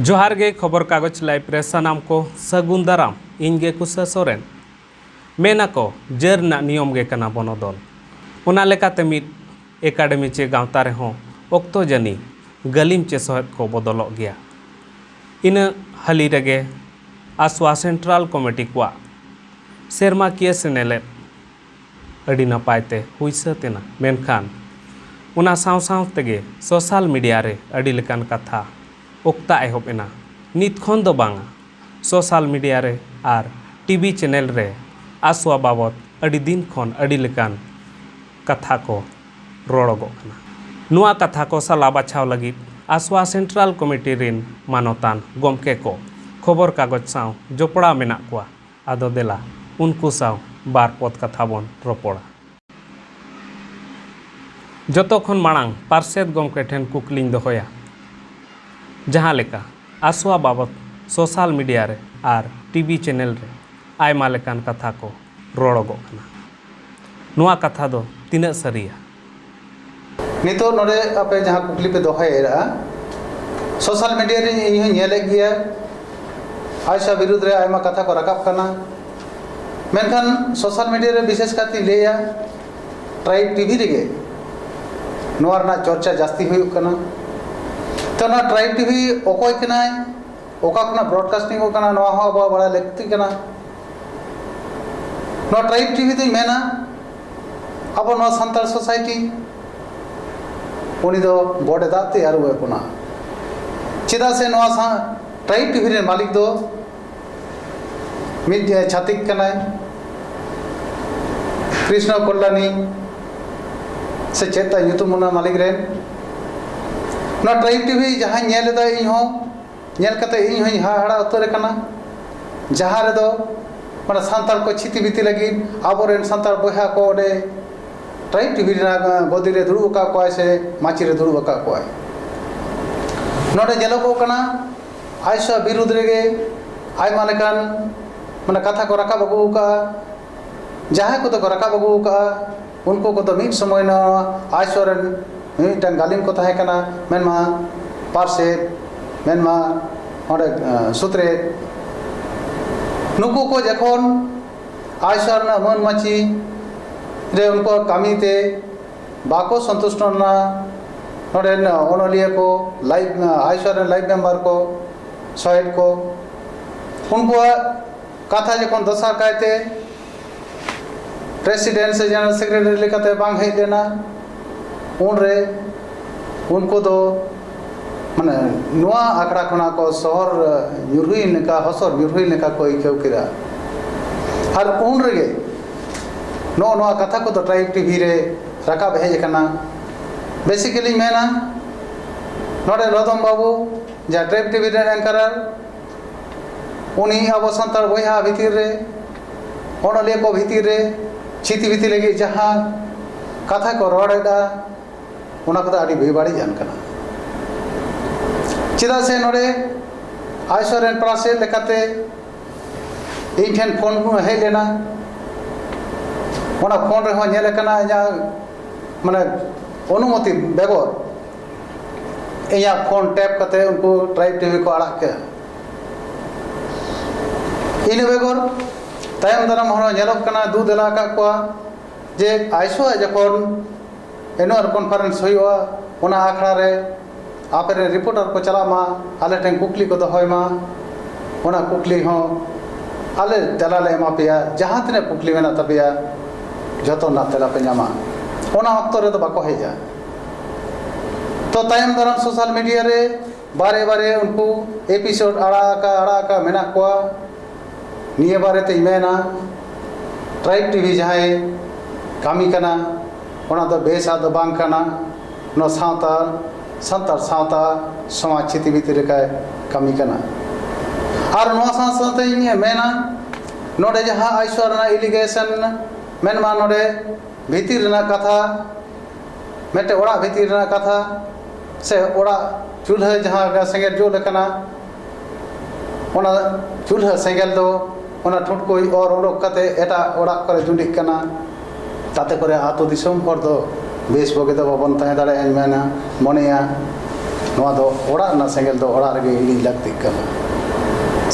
ᱡᱚᱦᱟᱨ ᱜᱮ ᱠᱷᱚᱵᱚᱨ ᱠᱟᱜᱚᱡᱽ ᱞᱟᱭᱤᱵ ᱨᱮ ᱥᱟᱱᱟᱢ ᱠᱚ ᱥᱟᱹᱜᱩᱱ ᱫᱟᱨᱟᱢ ᱤᱧ ᱜᱮ ᱠᱩᱥᱟ ᱥᱚᱨᱮᱱ ᱢᱮᱱ ᱟᱠᱚ ᱡᱟᱹᱨ ᱨᱮᱱᱟᱜ ᱱᱤᱭᱚᱢ ᱜᱮ ᱠᱟᱱᱟ ᱵᱚᱱᱚᱫᱚᱞ᱾ ᱚᱱᱟ ᱞᱮᱠᱟᱛᱮ ᱢᱤᱫ ᱮᱠᱟᱰᱮᱢᱤ ᱪᱮ ᱜᱟᱶᱛᱟ ᱨᱮᱦᱚᱸ ᱚᱠᱛᱚ ᱡᱟᱹᱱᱤ ᱜᱟᱹᱞᱤᱢ ᱪᱮ ᱥᱚᱦᱮᱫ ᱠᱚ ᱵᱚᱫᱚᱞᱚᱜ ᱜᱮᱭᱟ᱾ ᱤᱱᱟᱹ ᱦᱟᱹᱞᱤ ᱨᱮᱜᱮ ᱟᱥᱣᱟ ᱥᱮᱱᱴᱨᱟᱞ ᱠᱚᱢᱤᱴᱤ ᱠᱚᱣᱟᱜ ᱥᱮᱨᱢᱟᱠᱤᱭᱟᱹ ᱥᱮᱱᱮᱞᱮᱫ ᱟᱹᱰᱤ ᱱᱟᱯᱟᱭ ᱛᱮ ᱦᱩᱭ ᱥᱟᱹᱛ ᱮᱱᱟ᱾ ᱢᱮᱱᱠᱷᱟᱱ ᱚᱱᱟ ᱥᱟᱶ ᱥᱟᱶ ᱛᱮᱜᱮ ᱥᱚᱥᱟᱞ ᱢᱤᱰᱤᱭᱟ ᱨᱮ ᱟᱹᱰᱤ ᱞᱮᱠᱟᱱ ᱠᱟᱛᱷᱟ ᱚᱠᱛᱟ ᱮᱦᱚᱵ ᱮᱱᱟ᱾ ᱱᱤᱛ ᱠᱷᱚᱱ ᱫᱚ ᱵᱟᱝᱼᱟ᱾ ᱥᱚᱥᱟᱞ ᱢᱤᱰᱤᱭᱟ ᱨᱮ ᱟᱨ ᱴᱤᱵᱤ ᱪᱮᱱᱮᱞ ᱨᱮ ᱟᱥᱣᱟ ᱵᱟᱵᱚᱛ ᱟᱹᱰᱤ ᱫᱤᱱ ᱠᱷᱚᱱ ᱟᱹᱰᱤ ᱞᱮᱠᱟᱱ ᱠᱟᱛᱷᱟ ᱠᱚ ᱨᱚᱲᱚᱜᱚᱜ ᱠᱟᱱᱟ᱾ ᱱᱚᱣᱟ ᱠᱟᱛᱷᱟ ᱠᱚ ᱥᱟᱞᱟ ᱵᱟᱪᱷᱟᱣ ᱞᱟᱹᱜᱤᱫ ᱟᱥᱣᱟ ᱥᱮᱱᱴᱨᱟᱞ ᱠᱚᱢᱤᱴᱤ ᱨᱤᱱ ᱢᱟᱱᱚᱛᱟᱱ ᱜᱚᱢᱠᱮ ᱠᱚ ᱠᱷᱚᱵᱚᱨ ᱠᱟᱜᱚᱡᱽ ᱥᱟᱶ ᱡᱚᱯᱚᱲᱟᱣ ᱢᱮᱱᱟᱜ ᱠᱚᱣᱟ᱾ ᱟᱫᱚ ᱫᱮᱞᱟ ᱩᱱᱠᱩ ᱥᱟᱶ ᱵᱟᱨ ᱯᱚᱫᱽ ᱠᱟᱛᱷᱟ ᱵᱚᱱ ᱨᱚᱯᱚᱲᱟ᱾ ᱡᱚᱛᱚ ᱠᱷᱚᱱ ᱢᱟᱲᱟᱝ ᱯᱟᱨᱥᱮᱛ ᱜᱚᱢᱠᱮ ᱴᱷᱮᱱ ᱠᱩᱠᱞᱤᱧ ᱫᱚᱦᱚᱭᱟ᱾ ᱡᱟᱦᱟᱸ ᱞᱮᱠᱟ ᱟᱥᱣᱟ ᱵᱟᱵᱚᱛ ᱥᱚᱥᱟᱞ ᱢᱤᱰᱤᱭᱟ ᱨᱮ ᱟᱨ ᱴᱤᱵᱤ ᱪᱮᱱᱮᱞ ᱨᱮ ᱟᱭᱢᱟ ᱞᱮᱠᱟᱱ ᱠᱟᱛᱷᱟ ᱠᱚ ᱨᱚᱲᱚᱜᱚᱜ ᱠᱟᱱᱟ᱾ ᱱᱚᱶᱟ ᱠᱟᱛᱷᱟ ᱫᱚ ᱛᱤᱱᱟᱹᱜ ᱥᱟᱹᱨᱤᱭᱟ? ᱱᱤᱛᱚᱜ ᱱᱚᱰᱮ ᱟᱯᱮ ᱡᱟᱦᱟᱸ ᱠᱩᱠᱞᱤ ᱯᱮ ᱫᱚᱦᱚᱭᱮᱫᱼᱟ ᱥᱳᱥᱟᱞ ᱢᱤᱰᱤᱭᱟ ᱨᱮ ᱤᱧ ᱦᱚᱸᱧ ᱧᱮᱞᱮᱫ ᱜᱮᱭᱟ ᱟᱭᱥᱟ ᱵᱤᱨᱩᱫᱽ ᱨᱮ ᱟᱭᱢᱟ ᱠᱟᱛᱷᱟ ᱠᱚ ᱨᱟᱠᱟᱵ ᱠᱟᱱᱟ ᱢᱮᱱᱠᱷᱟᱱ ᱥᱳᱥᱟᱞ ᱢᱤᱰᱤᱭᱟ ᱨᱮ ᱵᱤᱥᱮᱥ ᱠᱟᱭᱛᱮᱧ ᱞᱟᱹᱭᱟ ᱴᱨᱟᱭᱤᱵᱽ ᱴᱤᱵᱷᱤ ᱨᱮᱜᱮ ᱱᱚᱣᱟ ᱨᱮᱱᱟᱜ ᱪᱚᱨᱪᱟ ᱡᱟᱹᱥᱛᱤ ᱦᱩᱭᱩᱜ ᱠᱟᱱᱟ ᱛᱚ ᱱᱚᱣᱟ ᱴᱨᱟᱭᱤᱵᱽ ᱴᱤᱵᱷᱤ ᱚᱠᱚᱭ ᱠᱟᱱᱟᱭ ᱚᱠᱟ ᱠᱷᱚᱱᱟᱜ ᱵᱨᱚᱰᱠᱟᱥᱴᱤᱝ ᱚᱜ ᱠᱟᱱᱟ ᱱᱚᱣᱟ ᱦᱚᱸ ᱟᱵᱚᱣᱟᱜ ᱵᱟᱲᱟᱭ ᱞᱟᱹᱠᱛᱤ ᱠᱟᱱᱟ ᱱᱚᱣᱟ ᱴᱨᱟᱭᱤᱵᱽ ᱴᱤᱵᱷᱤ ᱫᱚᱧ ᱢᱮᱱᱟ ᱟᱵᱚ ᱱᱚᱣᱟ ᱥᱟᱱᱛᱟᱲ ᱥᱳᱥᱟᱭᱴᱤ ᱩᱱᱤ ᱫᱚ ᱵᱚᱰᱮ ᱫᱟᱜ ᱛᱮ ᱟᱹᱨᱩᱵ ᱮ ᱵᱚᱱᱟ ᱪᱮᱫᱟᱜ ᱥᱮ ᱱᱚᱣᱟ ᱥᱟᱶ ᱴᱨᱟᱭᱤᱵᱽ ᱴᱤᱵᱷᱤ ᱨᱮᱱ ᱢᱟᱹᱞᱤᱠ ᱫᱚ ᱢᱤᱫ ᱪᱷᱟᱹᱛᱤᱠ ᱠᱟᱱᱟᱭ ᱠᱨᱤᱥᱱᱚ ᱠᱚᱞᱞᱟᱱᱤ ᱥᱮ ᱪᱮᱫ ᱛᱟᱭ ᱧᱩᱛᱩᱢ ᱚᱱᱟ ᱢᱟᱹᱞᱤᱠ ᱨᱮᱱ ᱱᱚᱣᱟ ᱴᱨᱟᱭᱤᱵᱽ ᱴᱤᱵᱷᱤ ᱡᱟᱦᱟᱸᱧ ᱧᱮᱞ ᱮᱫᱟ ᱤᱧ ᱦᱚᱸ ᱧᱮᱞ ᱠᱟᱛᱮ ᱤᱧ ᱦᱚᱸᱧ ᱦᱟᱦᱟᱲᱟ ᱩᱛᱟᱹᱨ ᱟᱠᱟᱱᱟ ᱡᱟᱦᱟᱸ ᱨᱮᱫᱚ ᱢᱟᱱᱮ ᱥᱟᱱᱛᱟᱲ ᱠᱚ ᱪᱷᱤᱛᱤ ᱵᱤᱛᱤ ᱞᱟᱹᱜᱤᱫ ᱟᱵᱚ ᱨᱮᱱ ᱥᱟᱱᱛᱟᱲ ᱵᱚᱭᱦᱟ ᱠᱚ ᱚᱸᱰᱮ ᱴᱨᱟᱭᱤᱵᱽ ᱴᱤᱵᱷᱤ ᱨᱮᱱᱟᱜ ᱜᱚᱫᱤ ᱨᱮ ᱫᱩᱲᱩᱵ ᱟᱠᱟᱫ ᱠᱚᱣᱟᱭ ᱥᱮ ᱢᱟᱹᱪᱤ ᱨᱮ ᱫᱩᱲᱩᱵ ᱟᱠᱟᱫ ᱠᱚᱣᱟᱭ ᱱᱚᱰᱮ ᱧᱮᱞᱚᱜᱚᱜ ᱠᱟᱱᱟ ᱟᱡ ᱥᱟᱶ ᱵᱤᱨᱩᱫᱷ ᱨᱮᱜᱮ ᱟᱭᱢᱟ ᱞᱮᱠᱟᱱ ᱢᱟᱱᱮ ᱠᱟᱛᱷᱟ ᱠᱚ ᱨᱟᱠᱟᱵ ᱟᱹᱜᱩ ᱟᱠᱟᱫᱼᱟ ᱡᱟᱦᱟᱸᱭ ᱠᱚᱫᱚ ᱠᱚ ᱨᱟᱠᱟᱵ ᱟᱹᱜᱩ ᱟᱠᱟᱫᱼᱟ ᱩᱱᱠᱩ ᱠᱚᱫᱚ ᱢᱤᱫ ᱥᱚᱢᱚᱭ ᱱᱚᱣᱟ ᱟᱭᱥᱚ ᱨᱮᱱ ᱢᱤᱫᱴᱟᱝ ᱜᱟᱹᱞᱤᱢ ᱠᱚ ᱛᱟᱦᱮᱸ ᱠᱟᱱᱟ ᱢᱮᱱᱢᱟ ᱯᱟᱨᱥᱮᱫ ᱢᱮᱱᱢᱟ ᱚᱸᱰᱮ ᱥᱩᱛᱨᱮ ᱱᱩᱠᱩ ᱠᱚ ᱡᱚᱠᱷᱚᱱ ᱟᱭᱥᱚ ᱨᱮᱱᱟᱜ ᱢᱟᱹᱱ ᱢᱟᱹᱪᱤ ᱨᱮ ᱩᱱᱠᱩᱣᱟᱜ ᱠᱟᱹᱢᱤᱛᱮ ᱵᱟᱠᱚ ᱥᱚᱱᱛᱩᱥᱴᱚ ᱞᱮᱱᱟ ᱱᱚᱰᱮᱱ ᱚᱱᱚᱞᱤᱭᱟᱹ ᱠᱚ ᱞᱟᱭᱤᱵ ᱟᱭᱥᱚ ᱨᱮᱱ ᱞᱟᱭᱤᱵ ᱢᱮᱢᱵᱟᱨ ᱠᱚ ᱥᱚᱦᱮᱫ ᱠᱚ ᱩᱱᱠᱩᱣᱟᱜ ᱠᱟᱛᱷᱟ ᱡᱚᱠᱷᱚᱱ ᱫᱚᱥᱟᱨ ᱠᱟᱭᱛᱮ ᱯᱨᱮᱥᱤᱰᱮᱱᱴ ᱥᱮ ᱡᱮᱱᱟᱨᱮᱞ ᱥᱮᱠᱨᱮᱴᱟᱨᱤ ᱞᱮᱠᱟᱛᱮ ᱵᱟᱝ ᱦᱮᱡ ᱞᱮᱱᱟ ᱩᱱᱨᱮ ᱩᱱᱠᱩ ᱫᱚ ᱢᱟᱱᱮ ᱱᱚᱣᱟ ᱟᱠᱷᱲᱟ ᱠᱷᱚᱱᱟᱜ ᱠᱚ ᱥᱚᱦᱚᱨ ᱧᱩᱨᱦᱩᱭ ᱞᱮᱠᱟ ᱦᱚᱥᱚᱨ ᱧᱩᱨᱦᱩᱭ ᱞᱮᱠᱟ ᱠᱚ ᱟᱹᱭᱠᱟᱹᱣ ᱠᱮᱫᱟ ᱟᱨ ᱩᱱ ᱨᱮᱜᱮ ᱱᱚᱜᱼᱚ ᱱᱚᱣᱟ ᱠᱟᱛᱷᱟ ᱠᱚᱫᱚ ᱴᱨᱟᱭᱤᱵᱽ ᱴᱤᱵᱷᱤ ᱨᱮ ᱨᱟᱠᱟᱵ ᱦᱮᱡ ᱟᱠᱟᱱᱟ ᱵᱮᱥᱤᱠᱮᱞᱤᱧ ᱢᱮᱱᱟ ᱱᱚᱰᱮ ᱞᱚᱫᱚᱢ ᱵᱟᱹᱵᱩ ᱡᱟᱦᱟᱸ ᱴᱨᱟᱭᱤᱵᱽ ᱴᱤᱵᱷᱤ ᱨᱮᱱ ᱮᱝᱠᱟᱨᱟᱨ ᱩᱱᱤ ᱟᱵᱚ ᱥᱟᱱᱛᱟᱲ ᱵᱚᱭᱦᱟ ᱵᱷᱤᱛᱤᱨ ᱨᱮ ᱚᱱᱚᱞᱤᱭᱟᱹ ᱠᱚ ᱵᱷᱤᱛᱤᱨ ᱨᱮ ᱪᱷᱤᱛᱤ ᱵᱤᱛᱤ ᱞᱟᱹᱜᱤᱫ ᱡᱟᱦᱟᱸ ᱠᱟᱛᱷᱟ ᱠᱚ ᱨᱚᱲᱮᱫᱟ ᱚᱱᱟ ᱠᱚᱫᱚ ᱟᱹᱰᱤ ᱵᱮᱵᱟᱹᱲᱤᱡ ᱟᱱ ᱠᱟᱱᱟ ᱪᱮᱫᱟᱜ ᱥᱮ ᱱᱚᱰᱮ ᱟᱭᱥᱚᱨ ᱨᱮᱱ ᱯᱟᱨᱟᱥᱮᱛ ᱞᱮᱠᱟᱛᱮ ᱤᱧ ᱴᱷᱮᱱ ᱯᱷᱳᱱ ᱦᱮᱡ ᱞᱮᱱᱟ ᱚᱱᱟ ᱯᱷᱳᱱ ᱨᱮᱦᱚᱸ ᱧᱮᱞ ᱟᱠᱟᱱᱟ ᱤᱧᱟᱹᱜ ᱢᱟᱱᱮ ᱚᱱᱩᱢᱚᱛᱤ ᱵᱮᱜᱚᱨ ᱤᱧᱟᱹᱜ ᱯᱷᱳᱱ ᱴᱮᱯ ᱠᱟᱛᱮ ᱩᱱᱠᱩ ᱴᱨᱟᱭᱤᱵᱽ ᱴᱤᱵᱷᱤ ᱠᱚ ᱟᱲᱟᱜ ᱠᱮᱫᱼᱟ ᱤᱱᱟᱹ ᱵᱮᱜᱚᱨ ᱛᱟᱭᱚᱢ ᱫᱟᱨᱟᱢ ᱦᱚᱸ ᱧᱮᱞᱚᱜ ᱠᱟᱱᱟ ᱫᱩ ᱫᱮᱞᱟ ᱟᱠᱟᱫ ᱠᱚᱣᱟ ᱡᱮ ᱟᱭᱥᱳ ᱟᱜ ᱡᱚᱠᱷᱚᱱ ᱮᱱᱩᱣᱟᱞ ᱠᱚᱱᱯᱷᱟᱨᱮᱱᱥ ᱦᱩᱭᱩᱜᱼᱟ ᱚᱱᱟ ᱟᱠᱷᱲᱟ ᱨᱮ ᱟᱯᱮ ᱨᱮᱱ ᱨᱤᱯᱳᱴᱟᱨ ᱠᱚ ᱪᱟᱞᱟᱜ ᱢᱟ ᱟᱞᱮ ᱴᱷᱮᱱ ᱠᱩᱠᱞᱤ ᱠᱚ ᱫᱚᱦᱚᱭ ᱢᱟ ᱚᱱᱟ ᱠᱩᱠᱞᱤ ᱦᱚᱸ ᱟᱞᱮ ᱛᱮᱞᱟ ᱞᱮ ᱮᱢᱟ ᱯᱮᱭᱟ ᱡᱟᱦᱟᱸ ᱛᱤᱱᱟᱹᱜ ᱠᱩᱠᱞᱤ ᱢᱮᱱᱟᱜ ᱛᱟᱯᱮᱭᱟ ᱡᱚᱛᱚ ᱨᱮᱱᱟᱜ ᱛᱮᱞᱟ ᱯᱮ ᱧᱟᱢᱟ ᱚᱱᱟ ᱚᱠᱛᱚ ᱨᱮᱫᱚ ᱵᱟᱠᱚ ᱦᱮᱡᱼᱟ ᱛᱚ ᱛᱟᱭᱚᱢ ᱫᱟᱨᱟᱢ ᱥᱳᱥᱟᱞ ᱢᱤᱰᱤᱭᱟ ᱨᱮ ᱵᱟᱨᱮ ᱵᱟᱨᱮ ᱩᱱᱠᱩ ᱮᱯᱤᱥᱳᱰ ᱟᱲᱟᱜ ᱟᱠᱟ ᱟᱲᱟᱜ ᱟᱠᱟ ᱢᱮᱱᱟᱜ ᱠᱚᱣᱟ ᱱᱤᱭᱟᱹ ᱵᱟᱨᱮ ᱛᱮᱧ ᱢᱮᱱᱟ ᱴᱨᱟᱭᱤᱵᱽ ᱴᱤᱵᱷᱤ ᱡᱟᱦᱟᱸᱭ ᱠᱟᱹᱢᱤ ᱠᱟᱱᱟ ᱚᱱᱟ ᱫᱚ ᱵᱮᱥᱟᱜ ᱫᱚ ᱵᱟᱝ ᱠᱟᱱᱟ ᱱᱚᱣᱟ ᱥᱟᱶᱛᱟ ᱥᱟᱱᱛᱟᱲ ᱥᱟᱶᱛᱟ ᱥᱚᱢᱟᱡᱽ ᱪᱷᱤᱛᱤ ᱵᱤᱛᱤ ᱞᱮᱠᱟᱭ ᱠᱟᱹᱢᱤ ᱠᱟᱱᱟ ᱟᱨ ᱱᱚᱣᱟ ᱥᱟᱶ ᱥᱟᱶᱛᱮ ᱤᱧ ᱢᱮᱱᱟ ᱱᱚᱰᱮ ᱡᱟᱦᱟᱸ ᱟᱭᱥᱚᱨ ᱨᱮᱱᱟᱜ ᱮᱞᱤᱜᱮᱥᱚᱱ ᱢᱮᱱᱢᱟ ᱱᱚᱰᱮ ᱵᱷᱤᱛᱤᱨ ᱨᱮᱱᱟᱜ ᱠᱟᱛᱷᱟ ᱢᱤᱫᱴᱮᱱ ᱚᱲᱟᱜ ᱵᱷᱤᱛᱤᱨ ᱨᱮᱱᱟᱜ ᱠᱟᱛᱷᱟ ᱥᱮ ᱚᱲᱟᱜ ᱪᱩᱞᱦᱟᱹ ᱡᱟᱦᱟᱸ ᱞᱮᱠᱟ ᱥᱮᱸᱜᱮᱞ ᱡᱩᱞ ᱟᱠᱟᱱᱟ ᱚᱱᱟ ᱪᱩᱞᱦᱟᱹ ᱥᱮᱸᱜᱮᱞ ᱫᱚ ᱚᱱᱟ ᱴᱷᱩᱴᱠᱩᱡ ᱚᱨ ᱩᱰᱩᱠ ᱠᱟᱛᱮᱫ ᱮᱴᱟᱜ ᱚᱲᱟᱜ ᱠᱚᱨᱮ ᱡᱩᱸᱰᱤᱜ ᱠᱟᱱᱟ ᱛᱟᱛᱮ ᱠᱚᱨᱮ ᱟᱹᱛᱩ ᱫᱤᱥᱚᱢ ᱦᱚᱲ ᱫᱚ ᱵᱮᱥ ᱵᱩᱜᱤ ᱫᱚ ᱵᱟᱵᱚᱱ ᱛᱟᱦᱮᱸ ᱫᱟᱲᱮᱭᱟᱜᱼᱟ ᱤᱧ ᱢᱮᱱᱟ ᱢᱚᱱᱮᱭᱟ ᱱᱚᱣᱟ ᱫᱚ ᱚᱲᱟᱜ ᱨᱮᱱᱟᱜ ᱥᱮᱸᱜᱮᱞ ᱫᱚ ᱚᱲᱟᱜ ᱨᱮᱜᱮ ᱤᱬᱤᱡ ᱞᱟᱹᱠᱛᱤᱜ ᱠᱟᱱᱟ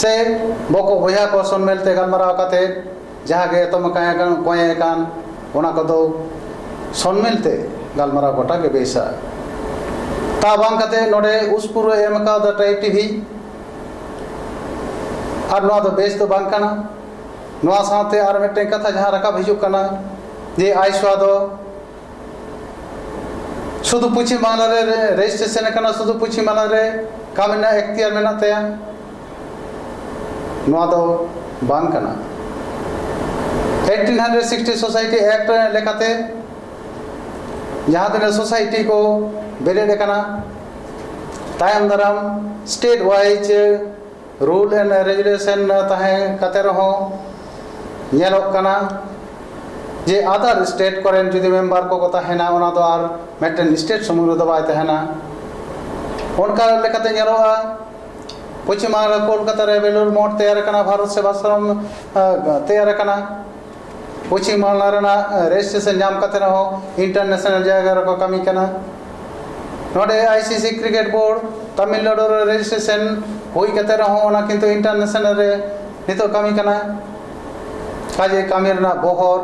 ᱥᱮ ᱵᱚᱠᱚ ᱵᱚᱭᱦᱟ ᱠᱚ ᱥᱚᱵᱽ ᱢᱤᱞᱛᱮ ᱜᱟᱞᱢᱟᱨᱟᱣ ᱠᱟᱛᱮᱫ ᱡᱟᱦᱟᱸ ᱜᱮ ᱮᱛᱚᱢ ᱟᱠᱟᱱ ᱮᱠᱟᱱ ᱠᱚᱸᱭᱮ ᱟᱠᱟᱱ ᱚᱱᱟ ᱠᱚᱫᱚ ᱥᱚᱱᱢᱤᱞ ᱛᱮ ᱜᱟᱞᱢᱟᱨᱟᱣ ᱜᱚᱴᱟ ᱜᱮ ᱵᱮᱥᱟ ᱛᱟ ᱵᱟᱝ ᱠᱟᱛᱮ ᱱᱚᱰᱮ ᱩᱥᱯᱩᱨᱩ ᱮᱢ ᱟᱠᱟᱣᱫᱟ ᱴᱟᱭ ᱴᱤᱵᱷᱤ ᱟᱨ ᱱᱚᱣᱟ ᱫᱚ ᱵᱮᱥ ᱫᱚ ᱵᱟᱝ ᱠᱟᱱᱟ ᱱᱚᱣᱟ ᱥᱟᱶᱛᱮ ᱟᱨ ᱢᱤᱫᱴᱮᱱ ᱠᱟᱛᱷᱟ ᱡᱟᱦᱟᱸ ᱨᱟᱠᱟᱵ ᱦᱤᱡᱩᱜ ᱠᱟᱱᱟ ᱡᱮ ᱟᱭᱥᱣᱟ ᱫᱚ ᱥᱩᱫᱷᱩ ᱯᱚᱪᱷᱤᱢ ᱵᱟᱝᱞᱟ ᱨᱮ ᱨᱮᱡᱤᱥᱴᱨᱮᱥᱚᱱ ᱟᱠᱟᱱᱟ ᱥᱩᱫᱷᱩ ᱯᱚᱪᱷᱤᱢ ᱵᱟᱝᱞᱟ ᱨᱮ ᱠᱟᱹᱢᱤ ᱨᱮᱱᱟᱜ ᱮᱠᱷᱛᱤᱭᱟᱨ ᱢᱮᱱᱟᱜ ᱛᱟᱭᱟ ᱱᱚᱣᱟ ᱫᱚ ᱵᱟᱝ ᱠᱟᱱᱟ eighteen hundred sixty society act ᱞᱮᱠᱟᱛᱮ ᱡᱟᱦᱟᱸ ᱛᱤᱱᱟᱹᱜ ᱥᱳᱥᱟᱭᱴᱤ ᱠᱚ ᱵᱮᱨᱮᱫ ᱟᱠᱟᱱᱟ ᱛᱟᱭᱚᱢ ᱫᱟᱨᱟᱢ state wise rule and regulation ᱛᱟᱦᱮᱸ ᱠᱟᱛᱮ ᱨᱮᱦᱚᱸ ᱧᱮᱞᱚᱜ ᱠᱟᱱᱟ ᱡᱮ ᱟᱫᱟᱨ ᱥᱴᱮᱴ ᱠᱚᱨᱮᱱ ᱡᱩᱫᱤ ᱢᱮᱢᱵᱟᱨ ᱠᱚᱠᱚ ᱛᱟᱦᱮᱱᱟ ᱚᱱᱟ ᱫᱚ ᱟᱨ ᱢᱤᱫᱴᱮᱱ ᱥᱴᱮᱴ ᱥᱩᱢᱩᱝ ᱨᱮᱫᱚ ᱵᱟᱭ ᱛᱟᱦᱮᱱᱟ ᱚᱱᱠᱟ ᱞᱮᱠᱟᱛᱮ ᱧᱮᱞᱚᱜᱼᱟ ᱯᱚᱪᱷᱤᱢ ᱵᱟᱝᱞᱟ ᱠᱳᱞᱠᱟᱛᱟ ᱨᱮ ᱵᱮᱞᱩᱨ ᱢᱚᱴᱷ ᱛᱮᱭᱟᱨ ᱟᱠᱟᱱᱟ ᱵᱷᱟᱨᱚᱛ ᱥᱮᱵᱟᱥᱨᱚᱢ ᱛᱮᱭᱟᱨ ᱟᱠᱟᱱᱟ ᱯᱚᱪᱷᱤᱢ ᱵᱟᱝᱞᱟ ᱨᱮᱱᱟᱜ ᱨᱮᱡᱤᱥᱴᱨᱮᱥᱚᱱ ᱧᱟᱢ ᱠᱟᱛᱮ ᱨᱮᱦᱚᱸ ᱤᱱᱴᱟᱨᱱᱮᱥᱱᱟᱞ ᱡᱟᱭᱜᱟ ᱨᱮᱠᱚ ᱠᱟᱹᱢᱤ ᱠᱟᱱᱟ ᱱᱚᱰᱮ I C C cricket board Tamil Nadu ᱨᱮ ᱨᱮᱡᱤᱥᱴᱨᱮᱥᱚᱱ ᱦᱩᱭ ᱠᱟᱛᱮ ᱨᱮᱦᱚᱸ ᱚᱱᱟ ᱠᱤᱱᱛᱩ ᱤᱱᱴᱟᱨᱱᱮᱥᱱᱟᱞ ᱨᱮ ᱱᱤᱛᱚᱜ ᱠᱟᱹᱢᱤ ᱠᱟᱱᱟ ᱠᱟᱡᱮ ᱠᱟᱹᱢᱤ ᱨᱮᱱᱟᱜ ᱵᱚᱦᱚᱨ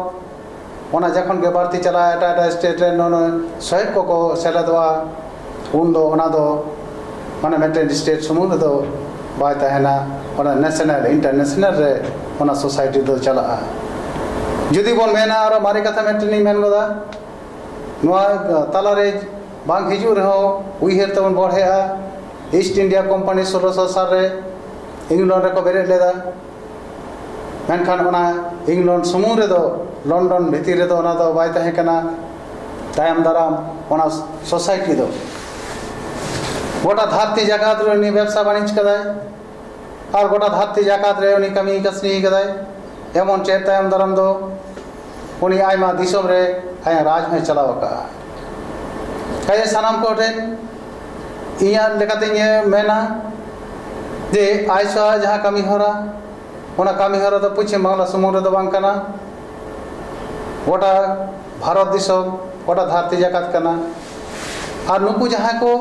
ᱚᱱᱟ ᱡᱚᱠᱷᱚᱱ ᱜᱮ ᱵᱟᱹᱲᱛᱤ ᱪᱟᱞᱟᱜᱼᱟ ᱮᱴᱟᱜ ᱮᱴᱟᱜ ᱥᱴᱮᱴ ᱨᱮᱱ ᱚᱱᱟ ᱥᱚᱦᱮᱫ ᱠᱚᱠᱚ ᱥᱮᱞᱮᱫᱚᱜᱼᱟ ᱩᱱ ᱫᱚ ᱚᱱᱟ ᱫᱚ ᱢᱟᱱᱮ ᱢᱤᱫᱴᱮᱱ ᱥᱴᱮᱴ ᱥᱩᱢᱩᱝ ᱨᱮᱫᱚ ᱵᱟᱭ ᱛᱟᱦᱮᱱᱟ ᱚᱱᱟ ᱱᱮᱥᱱᱮᱞ ᱤᱱᱴᱟᱨᱱᱮᱥᱱᱮᱞ ᱨᱮ ᱚᱱᱟ ᱥᱳᱥᱟᱭᱴᱤ ᱫᱚ ᱪᱟᱞᱟᱜᱼᱟ ᱡᱩᱫᱤ ᱵᱚᱱ ᱢᱮᱱᱟ ᱟᱨᱚ ᱢᱟᱨᱮ ᱠᱟᱛᱷᱟ ᱢᱤᱫᱴᱮᱱ ᱤᱧ ᱢᱮᱱ ᱜᱚᱫᱟ ᱱᱚᱣᱟ ᱛᱟᱞᱟ ᱨᱮ ᱵᱟᱝ ᱦᱤᱡᱩᱜ ᱨᱮᱦᱚᱸ ᱩᱭᱦᱟᱹᱨ ᱛᱮᱵᱚᱱ ᱵᱚᱲᱦᱮᱜᱼᱟ ᱤᱥᱴ ᱤᱱᱰᱤᱭᱟ ᱠᱳᱢᱯᱟᱱᱤ ᱥᱳᱞᱳᱥᱚ ᱥᱟᱞ ᱨᱮ ᱤᱝᱞᱚᱱᱰ ᱨᱮᱠᱚ ᱵᱮᱨᱮᱫ ᱞᱮᱫᱟ ᱢᱮᱱᱠᱷᱟᱱ ᱚᱱᱟ ᱤᱝᱞᱚᱱᱰ ᱥᱩᱢᱩᱝ ᱨᱮᱫᱚ ᱞᱚᱱᱰᱚᱱ ᱵᱷᱤᱛᱤᱨ ᱨᱮᱫᱚ ᱚᱱᱟ ᱫᱚ ᱵᱟᱭ ᱛᱟᱦᱮᱸ ᱠᱟᱱᱟ ᱛᱟᱭᱚᱢ ᱫᱟᱨᱟᱢ ᱚᱱᱟ ᱥᱳᱥᱟᱭᱴᱤ ᱫᱚ ᱜᱚᱴᱟ ᱫᱷᱟᱹᱨᱛᱤ ᱡᱟᱠᱟᱛ ᱨᱮ ᱩᱱᱤ ᱵᱮᱵᱽᱥᱟ ᱵᱟᱹᱱᱤᱡᱽ ᱠᱟᱫᱟᱭ ᱟᱨ ᱜᱚᱴᱟ ᱫᱷᱟᱹᱨᱛᱤ ᱡᱟᱠᱟᱛ ᱨᱮ ᱩᱱᱤ ᱠᱟᱹᱢᱤ ᱠᱟᱹᱥᱱᱤ ᱠᱟᱫᱟᱭ ᱮᱢᱚᱱ ᱪᱮᱫ ᱛᱟᱭᱚᱢ ᱫᱟᱨᱟᱢ ᱫᱚ ᱩᱱᱤ ᱟᱭᱢᱟ ᱫᱤᱥᱚᱢ ᱨᱮ ᱟᱭᱟᱜ ᱨᱟᱡᱽ ᱦᱚᱸᱭ ᱪᱟᱞᱟᱣ ᱟᱠᱟᱫᱼᱟ ᱠᱟᱡᱮ ᱥᱟᱱᱟᱢ ᱠᱚ ᱴᱷᱮᱱ ᱤᱧᱟᱹᱜ ᱞᱮᱠᱟᱛᱤᱧ ᱢᱮᱱᱟ ᱡᱮ ᱟᱡ ᱥᱟᱶ ᱡᱟᱦᱟᱸ ᱠᱟᱹᱢᱤ ᱦᱚᱨᱟ ᱚᱱᱟ ᱠᱟᱹᱢᱤ ᱦᱚᱨᱟ ᱫᱚ ᱯᱚᱪᱷᱤᱢ ᱵᱟᱝᱞᱟ ᱥᱩᱢᱩᱝ ᱨᱮᱫᱚ ᱵᱟᱝ ᱠᱟᱱᱟ ᱜᱚᱴᱟ ᱵᱷᱟᱨᱚᱛ ᱫᱤᱥᱚᱢ ᱜᱚᱴᱟ ᱫᱷᱟᱹᱨᱛᱤ ᱡᱟᱠᱟᱛ ᱠᱟᱱᱟ ᱟᱨ ᱱᱩᱠᱩ ᱡᱟᱦᱟᱸᱭ ᱠᱚ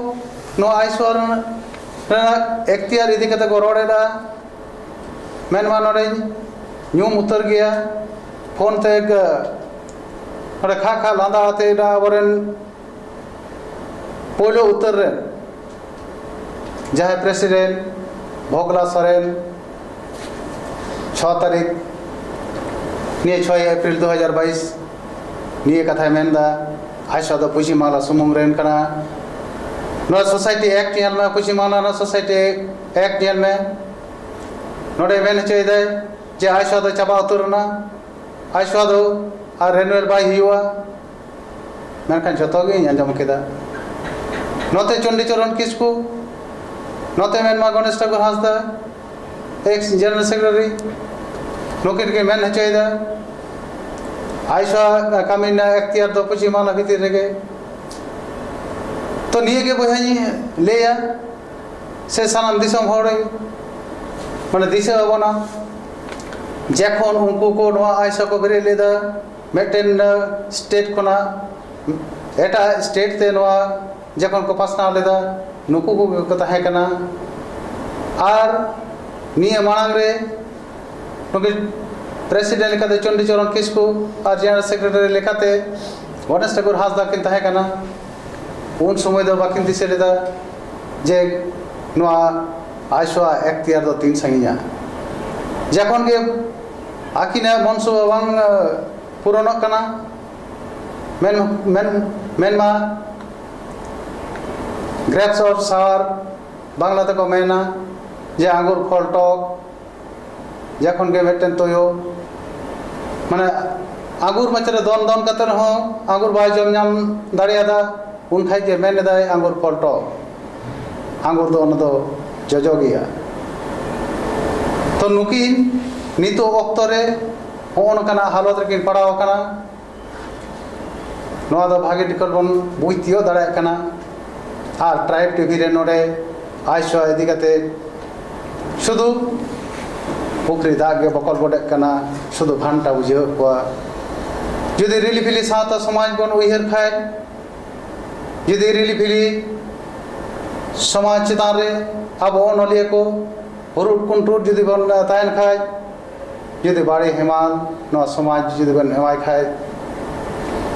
ᱱᱚᱣᱟ ᱟᱭᱤᱥᱣᱚᱨ ᱨᱮᱱᱟᱜ ᱮᱠᱛᱤᱭᱟᱨ ᱤᱫᱤ ᱠᱟᱛᱮ ᱠᱚ ᱨᱚᱲ ᱮᱫᱟ ᱢᱮᱱᱢᱟ ᱱᱚᱰᱮᱧ ᱧᱩᱢ ᱩᱛᱟᱹᱨ ᱜᱮᱭᱟ ᱯᱷᱳᱱ ᱛᱮ ᱱᱚᱰᱮ ᱠᱷᱟᱜ ᱠᱷᱟᱜ ᱞᱟᱸᱫᱟ ᱟᱛᱮ ᱮᱴᱟᱜ ᱟᱵᱚᱨᱮᱱ ᱯᱳᱭᱞᱳ ᱩᱛᱟᱹᱨ ᱨᱮ ᱡᱟᱦᱟᱸᱭ ᱯᱨᱮᱥᱤᱰᱮᱱᱴ ᱵᱷᱚᱜᱽᱞᱟ ᱥᱚᱨᱮᱱ ᱪᱷᱚ ᱛᱟᱹᱨᱤᱠᱷ ᱱᱤᱭᱟᱹ ᱪᱷᱚᱭ ᱮᱯᱨᱤᱞ ᱫᱩ ᱦᱟᱡᱟᱨ ᱵᱟᱭᱤᱥ ᱱᱤᱭᱟᱹ ᱠᱟᱛᱷᱟᱭ ᱢᱮᱱᱫᱟ ᱟᱡᱥᱟ ᱫᱚ ᱯᱚᱪᱷᱤᱢ ᱵᱟᱝᱞᱟ ᱥᱩᱢᱩᱝ ᱨᱮᱱ ᱠᱟᱱᱟ ᱱᱚᱣᱟ ᱥᱳᱥᱟᱭᱴᱤ ᱮᱠᱴ ᱧᱮᱞ ᱢᱮ ᱯᱚᱪᱷᱤᱢ ᱵᱟᱝᱞᱟ ᱨᱮᱱᱟᱜ ᱥᱳᱥᱟᱭᱴᱤ ᱮᱠᱴ ᱮᱠ ᱧᱮᱞ ᱢᱮ ᱱᱚᱰᱮ ᱢᱮᱱ ᱦᱚᱪᱚᱭᱮᱫᱟᱭ ᱡᱮ ᱟᱭᱥᱟ ᱫᱚ ᱪᱟᱵᱟ ᱩᱛᱟᱹᱨ ᱮᱱᱟ ᱟᱭᱥᱟ ᱫᱚ ᱟᱨ ᱨᱮᱱᱩᱭᱮᱞ ᱵᱟᱭ ᱦᱩᱭᱩᱜᱼᱟ ᱢᱮᱱᱠᱷᱟᱱ ᱡᱚᱛᱚ ᱜᱤᱧ ᱟᱸᱡᱚᱢ ᱠᱮᱫᱟ ᱱᱚᱛᱮ ᱪᱚᱱᱰᱤᱪᱚᱨᱚᱱ ᱠᱤᱥᱠᱩ ᱱᱚᱛᱮ ᱢᱮᱱᱢᱟ Ganesh Thakur Hansda ex general secretary ᱱᱩᱠᱤᱱ ᱜᱮ ᱢᱮᱱ ᱦᱚᱪᱚᱭᱮᱫᱟ ᱟᱭᱥᱟ ᱠᱟᱹᱢᱤ ᱨᱮᱱᱟᱜ ᱮᱠᱛᱤᱭᱟᱨ ᱫᱚ ᱯᱚᱪᱷᱤᱢ ᱵᱟᱝᱞᱟ ᱵᱷᱤᱛᱤᱨ ᱨᱮᱜᱮ ᱛᱚ ᱱᱤᱭᱟᱹᱜᱮ ᱵᱚᱭᱦᱟᱧ ᱞᱟᱹᱭᱟ ᱥᱮ ᱥᱟᱱᱟᱢ ᱫᱤᱥᱚᱢ ᱦᱚᱲ ᱢᱟᱱᱮ ᱫᱤᱥᱟᱹ ᱟᱵᱚᱱᱟ ᱡᱮᱠᱷᱚᱱ ᱩᱱᱠᱩ ᱠᱚ ᱱᱚᱣᱟ ᱟᱭᱥᱟ ᱠᱚ ᱵᱮᱨᱮᱫ ᱞᱮᱫᱟ ᱢᱤᱫᱴᱮᱱ ᱥᱴᱮᱴ ᱠᱷᱚᱱᱟᱜ ᱮᱴᱟᱜ ᱥᱴᱮᱴ ᱛᱮ ᱱᱚᱣᱟ ᱡᱚᱠᱷᱚᱱ ᱠᱚ ᱯᱟᱥᱱᱟᱣ ᱞᱮᱫᱟ ᱱᱩᱠᱩ ᱠᱚᱜᱮ ᱠᱚ ᱛᱟᱦᱮᱸ ᱠᱟᱱᱟ ᱟᱨ ᱱᱤᱭᱟᱹ ᱢᱟᱲᱟᱝ ᱨᱮ ᱱᱩᱠᱤᱱ ᱯᱨᱮᱥᱤᱰᱮᱱᱴ ᱞᱮᱠᱟᱛᱮ ᱪᱚᱱᱰᱤᱪᱚᱨᱚᱱ ᱠᱤᱥᱠᱩ ᱟᱨ ᱡᱮᱱᱟᱨᱮᱞ ᱥᱮᱠᱨᱮᱴᱟᱨᱤ ᱞᱮᱠᱟᱛᱮ ᱜᱚᱱᱮᱥ ᱴᱷᱟᱠᱩᱨ ᱦᱟᱸᱥᱫᱟ ᱠᱤᱱ ᱛᱟᱦᱮᱸ ᱠᱟᱱᱟ ᱩᱱ ᱥᱚᱢᱚᱭ ᱫᱚ ᱵᱟᱹᱠᱤᱱ ᱫᱤᱥᱟᱹ ᱞᱮᱫᱟ ᱡᱮ ᱱᱚᱣᱟ ᱟᱭᱥᱚᱣᱟᱜ ᱮᱠᱛᱤᱭᱟᱨ ᱫᱚ ᱛᱤᱱ ᱥᱟᱺᱜᱤᱧᱟ ᱡᱚᱠᱷᱚᱱ ᱜᱮ ᱟᱹᱠᱤᱱᱟᱜ ᱢᱚᱱᱥᱚ ᱵᱟᱝ ᱯᱩᱨᱚᱱᱚᱜ ᱠᱟᱱᱟ ᱢᱮᱱ ᱢᱮᱱ ᱢᱮᱱᱢᱟ ᱜᱨᱮᱯᱥ ᱚᱯᱷ ᱥᱟᱣᱟᱨ ᱵᱟᱝᱞᱟ ᱛᱮᱠᱚ ᱢᱮᱱᱟ ᱡᱮ ᱟᱸᱜᱩᱨ ᱯᱷᱚᱞ ᱴᱚᱠ ᱡᱚᱠᱷᱚᱱ ᱜᱮ ᱢᱤᱫᱴᱮᱱ ᱛᱩᱭᱩ ᱢᱟᱱᱮ ᱟᱸᱜᱩᱨ ᱢᱚᱪᱟ ᱨᱮ ᱫᱚᱱ ᱫᱚᱱ ᱠᱟᱛᱮ ᱨᱮᱦᱚᱸ ᱟᱸᱜᱩᱨ ᱵᱟᱭ ᱡᱚᱢ ᱧᱟᱢ ᱫᱟᱲᱮᱭᱟᱫᱟ ᱩᱱ ᱠᱷᱟᱡ ᱜᱮ ᱢᱮᱱ ᱮᱫᱟᱭ ᱟᱸᱜᱩᱨ ᱯᱚᱞᱴᱚ ᱟᱸᱜᱩᱨ ᱫᱚ ᱚᱱᱟ ᱫᱚ ᱡᱚᱡᱚ ᱜᱮᱭᱟ ᱛᱚ ᱱᱩᱠᱤᱱ ᱱᱤᱛᱚᱜ ᱚᱠᱛᱚ ᱨᱮ ᱦᱚᱸᱜᱼᱚ ᱱᱚᱝᱠᱟᱱᱟᱜ ᱦᱟᱞᱚᱛ ᱨᱮᱠᱤᱱ ᱯᱟᱲᱟᱣ ᱟᱠᱟᱱᱟ ᱱᱚᱣᱟ ᱫᱚ ᱵᱷᱟᱜᱮ ᱴᱷᱤᱠᱟᱹᱱ ᱵᱚᱱ ᱵᱩᱡᱽ ᱛᱤᱭᱳᱜ ᱫᱟᱲᱮᱭᱟᱜ ᱠᱟᱱᱟ ᱟᱨ ᱴᱨᱟᱭᱤᱵᱽ ᱴᱤᱵᱷᱤ ᱨᱮ ᱱᱚᱰᱮ ᱟᱭᱥᱚ ᱤᱫᱤ ᱠᱟᱛᱮ ᱥᱩᱫᱩ ᱯᱩᱠᱷᱨᱤ ᱫᱟᱜ ᱜᱮ ᱵᱚᱠᱚᱞ ᱵᱚᱰᱮᱜ ᱠᱟᱱᱟ ᱥᱩᱫᱩ ᱜᱷᱟᱱᱴᱟ ᱵᱩᱡᱷᱟᱹᱣᱮᱫ ᱠᱚᱣᱟ ᱡᱩᱫᱤ ᱨᱤᱞᱤ ᱯᱷᱤᱞᱤ ᱥᱟᱶᱛᱟ ᱥᱚᱢᱟᱡᱽ ᱵᱚᱱ ᱩᱭᱦᱟᱹᱨ ᱠᱷᱟᱡ ᱡᱩᱫᱤ ᱨᱤᱞᱤ ᱯᱷᱤᱞᱤ ᱥᱚᱢᱟᱡᱽ ᱪᱮᱛᱟᱱ ᱨᱮ ᱟᱵᱚ ᱚᱱᱚᱞᱤᱭᱟᱹ ᱠᱚ ᱦᱩᱨᱩᱫ ᱠᱩᱱᱴᱩᱨ ᱡᱩᱫᱤ ᱵᱚᱱ ᱛᱟᱦᱮᱱ ᱠᱷᱟᱡ ᱡᱩᱫᱤ ᱵᱟᱲᱮ ᱦᱮᱢᱟᱞ ᱱᱚᱣᱟ ᱥᱚᱢᱟᱡᱽ ᱡᱩᱫᱤ ᱵᱚᱱ ᱦᱮᱣᱟᱭ ᱠᱷᱟᱡ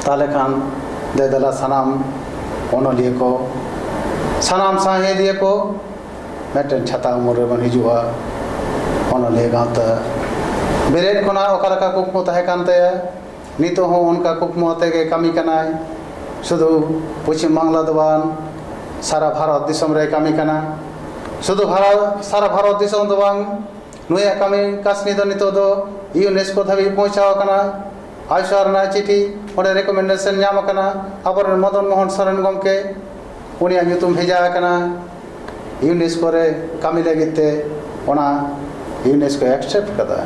ᱛᱟᱦᱚᱞᱮ ᱠᱷᱟᱱ ᱫᱮ ᱫᱮᱞᱟ ᱥᱟᱱᱟᱢ ᱚᱱᱚᱞᱤᱭᱟᱹ ᱠᱚ ᱥᱟᱱᱟᱢ ᱥᱟᱶᱦᱮᱫᱤᱭᱟᱹ ᱠᱚ ᱢᱤᱫᱴᱮᱱ ᱪᱷᱟᱛᱟ ᱩᱢᱩᱞ ᱨᱮᱵᱚᱱ ᱦᱤᱡᱩᱜᱼᱟ ᱚᱱᱚᱞᱤᱭᱟᱹ ᱜᱟᱶᱛᱟ ᱵᱮᱨᱮᱫ ᱠᱷᱚᱱᱟᱜ ᱚᱠᱟ ᱞᱮᱠᱟ ᱠᱩᱠᱢᱩ ᱛᱟᱦᱮᱸ ᱠᱟᱱ ᱛᱟᱭᱟ ᱱᱤᱛᱚᱜ ᱦᱚᱸ ᱚᱱᱠᱟ ᱠᱩᱠᱢᱩ ᱟᱛᱮ ᱜᱮ ᱠᱟᱹᱢᱤ ᱠᱟᱱᱟᱭ ᱥᱩᱫᱷᱩ ᱯᱚᱪᱷᱤᱢ ᱵᱟᱝᱞᱟ ᱫᱚ ᱵᱟᱝ ᱥᱟᱨᱟ ᱵᱷᱟᱨᱚᱛ ᱫᱤᱥᱚᱢ ᱨᱮᱭ ᱠᱟᱹᱢᱤ ᱠᱟᱱᱟ ᱥᱩᱫᱷᱩ ᱵᱷᱟᱨᱚᱛ ᱥᱟᱨᱟ ᱵᱷᱟᱨᱚᱛ ᱫᱤᱥᱚᱢ ᱫᱚ ᱵᱟᱝ ᱱᱩᱭᱟᱜ ᱠᱟᱹᱢᱤ ᱠᱟᱹᱥᱱᱤ ᱫᱚ ᱱᱤᱛᱚᱜ ᱫᱚ ᱤᱭᱩᱱᱮᱥᱠᱳ ᱫᱷᱟᱹᱵᱤᱡ ᱯᱳᱣᱪᱷᱟᱣ ᱟᱠᱟᱱᱟ ᱟᱭᱥᱟᱨ ᱨᱮᱱᱟᱜ ᱪᱤᱴᱷᱤ ᱚᱸᱰᱮ ᱨᱮᱠᱚᱢᱮᱱᱰᱮᱥᱚᱱ ᱧᱟᱢ ᱟᱠᱟᱱᱟ ᱟᱵᱚᱨᱮᱱ ᱢᱚᱫᱚᱱ ᱢᱳᱦᱚᱱ ᱥᱚᱨᱮᱱ ᱜᱚᱢᱠᱮ ᱩᱱᱤᱭᱟᱜ ᱧᱩᱛᱩᱢ ᱵᱷᱮᱡᱟ ᱟᱠᱟᱱᱟ ᱤᱭᱩᱱᱮᱥᱠᱳ ᱨᱮ ᱠᱟᱹᱢᱤ ᱞᱟᱹᱜᱤᱫ ᱛᱮ ᱚᱱᱟ ᱤᱭᱩᱱᱮᱥᱠᱳ ᱮᱠᱥᱮᱯᱴ ᱠᱟᱫᱟ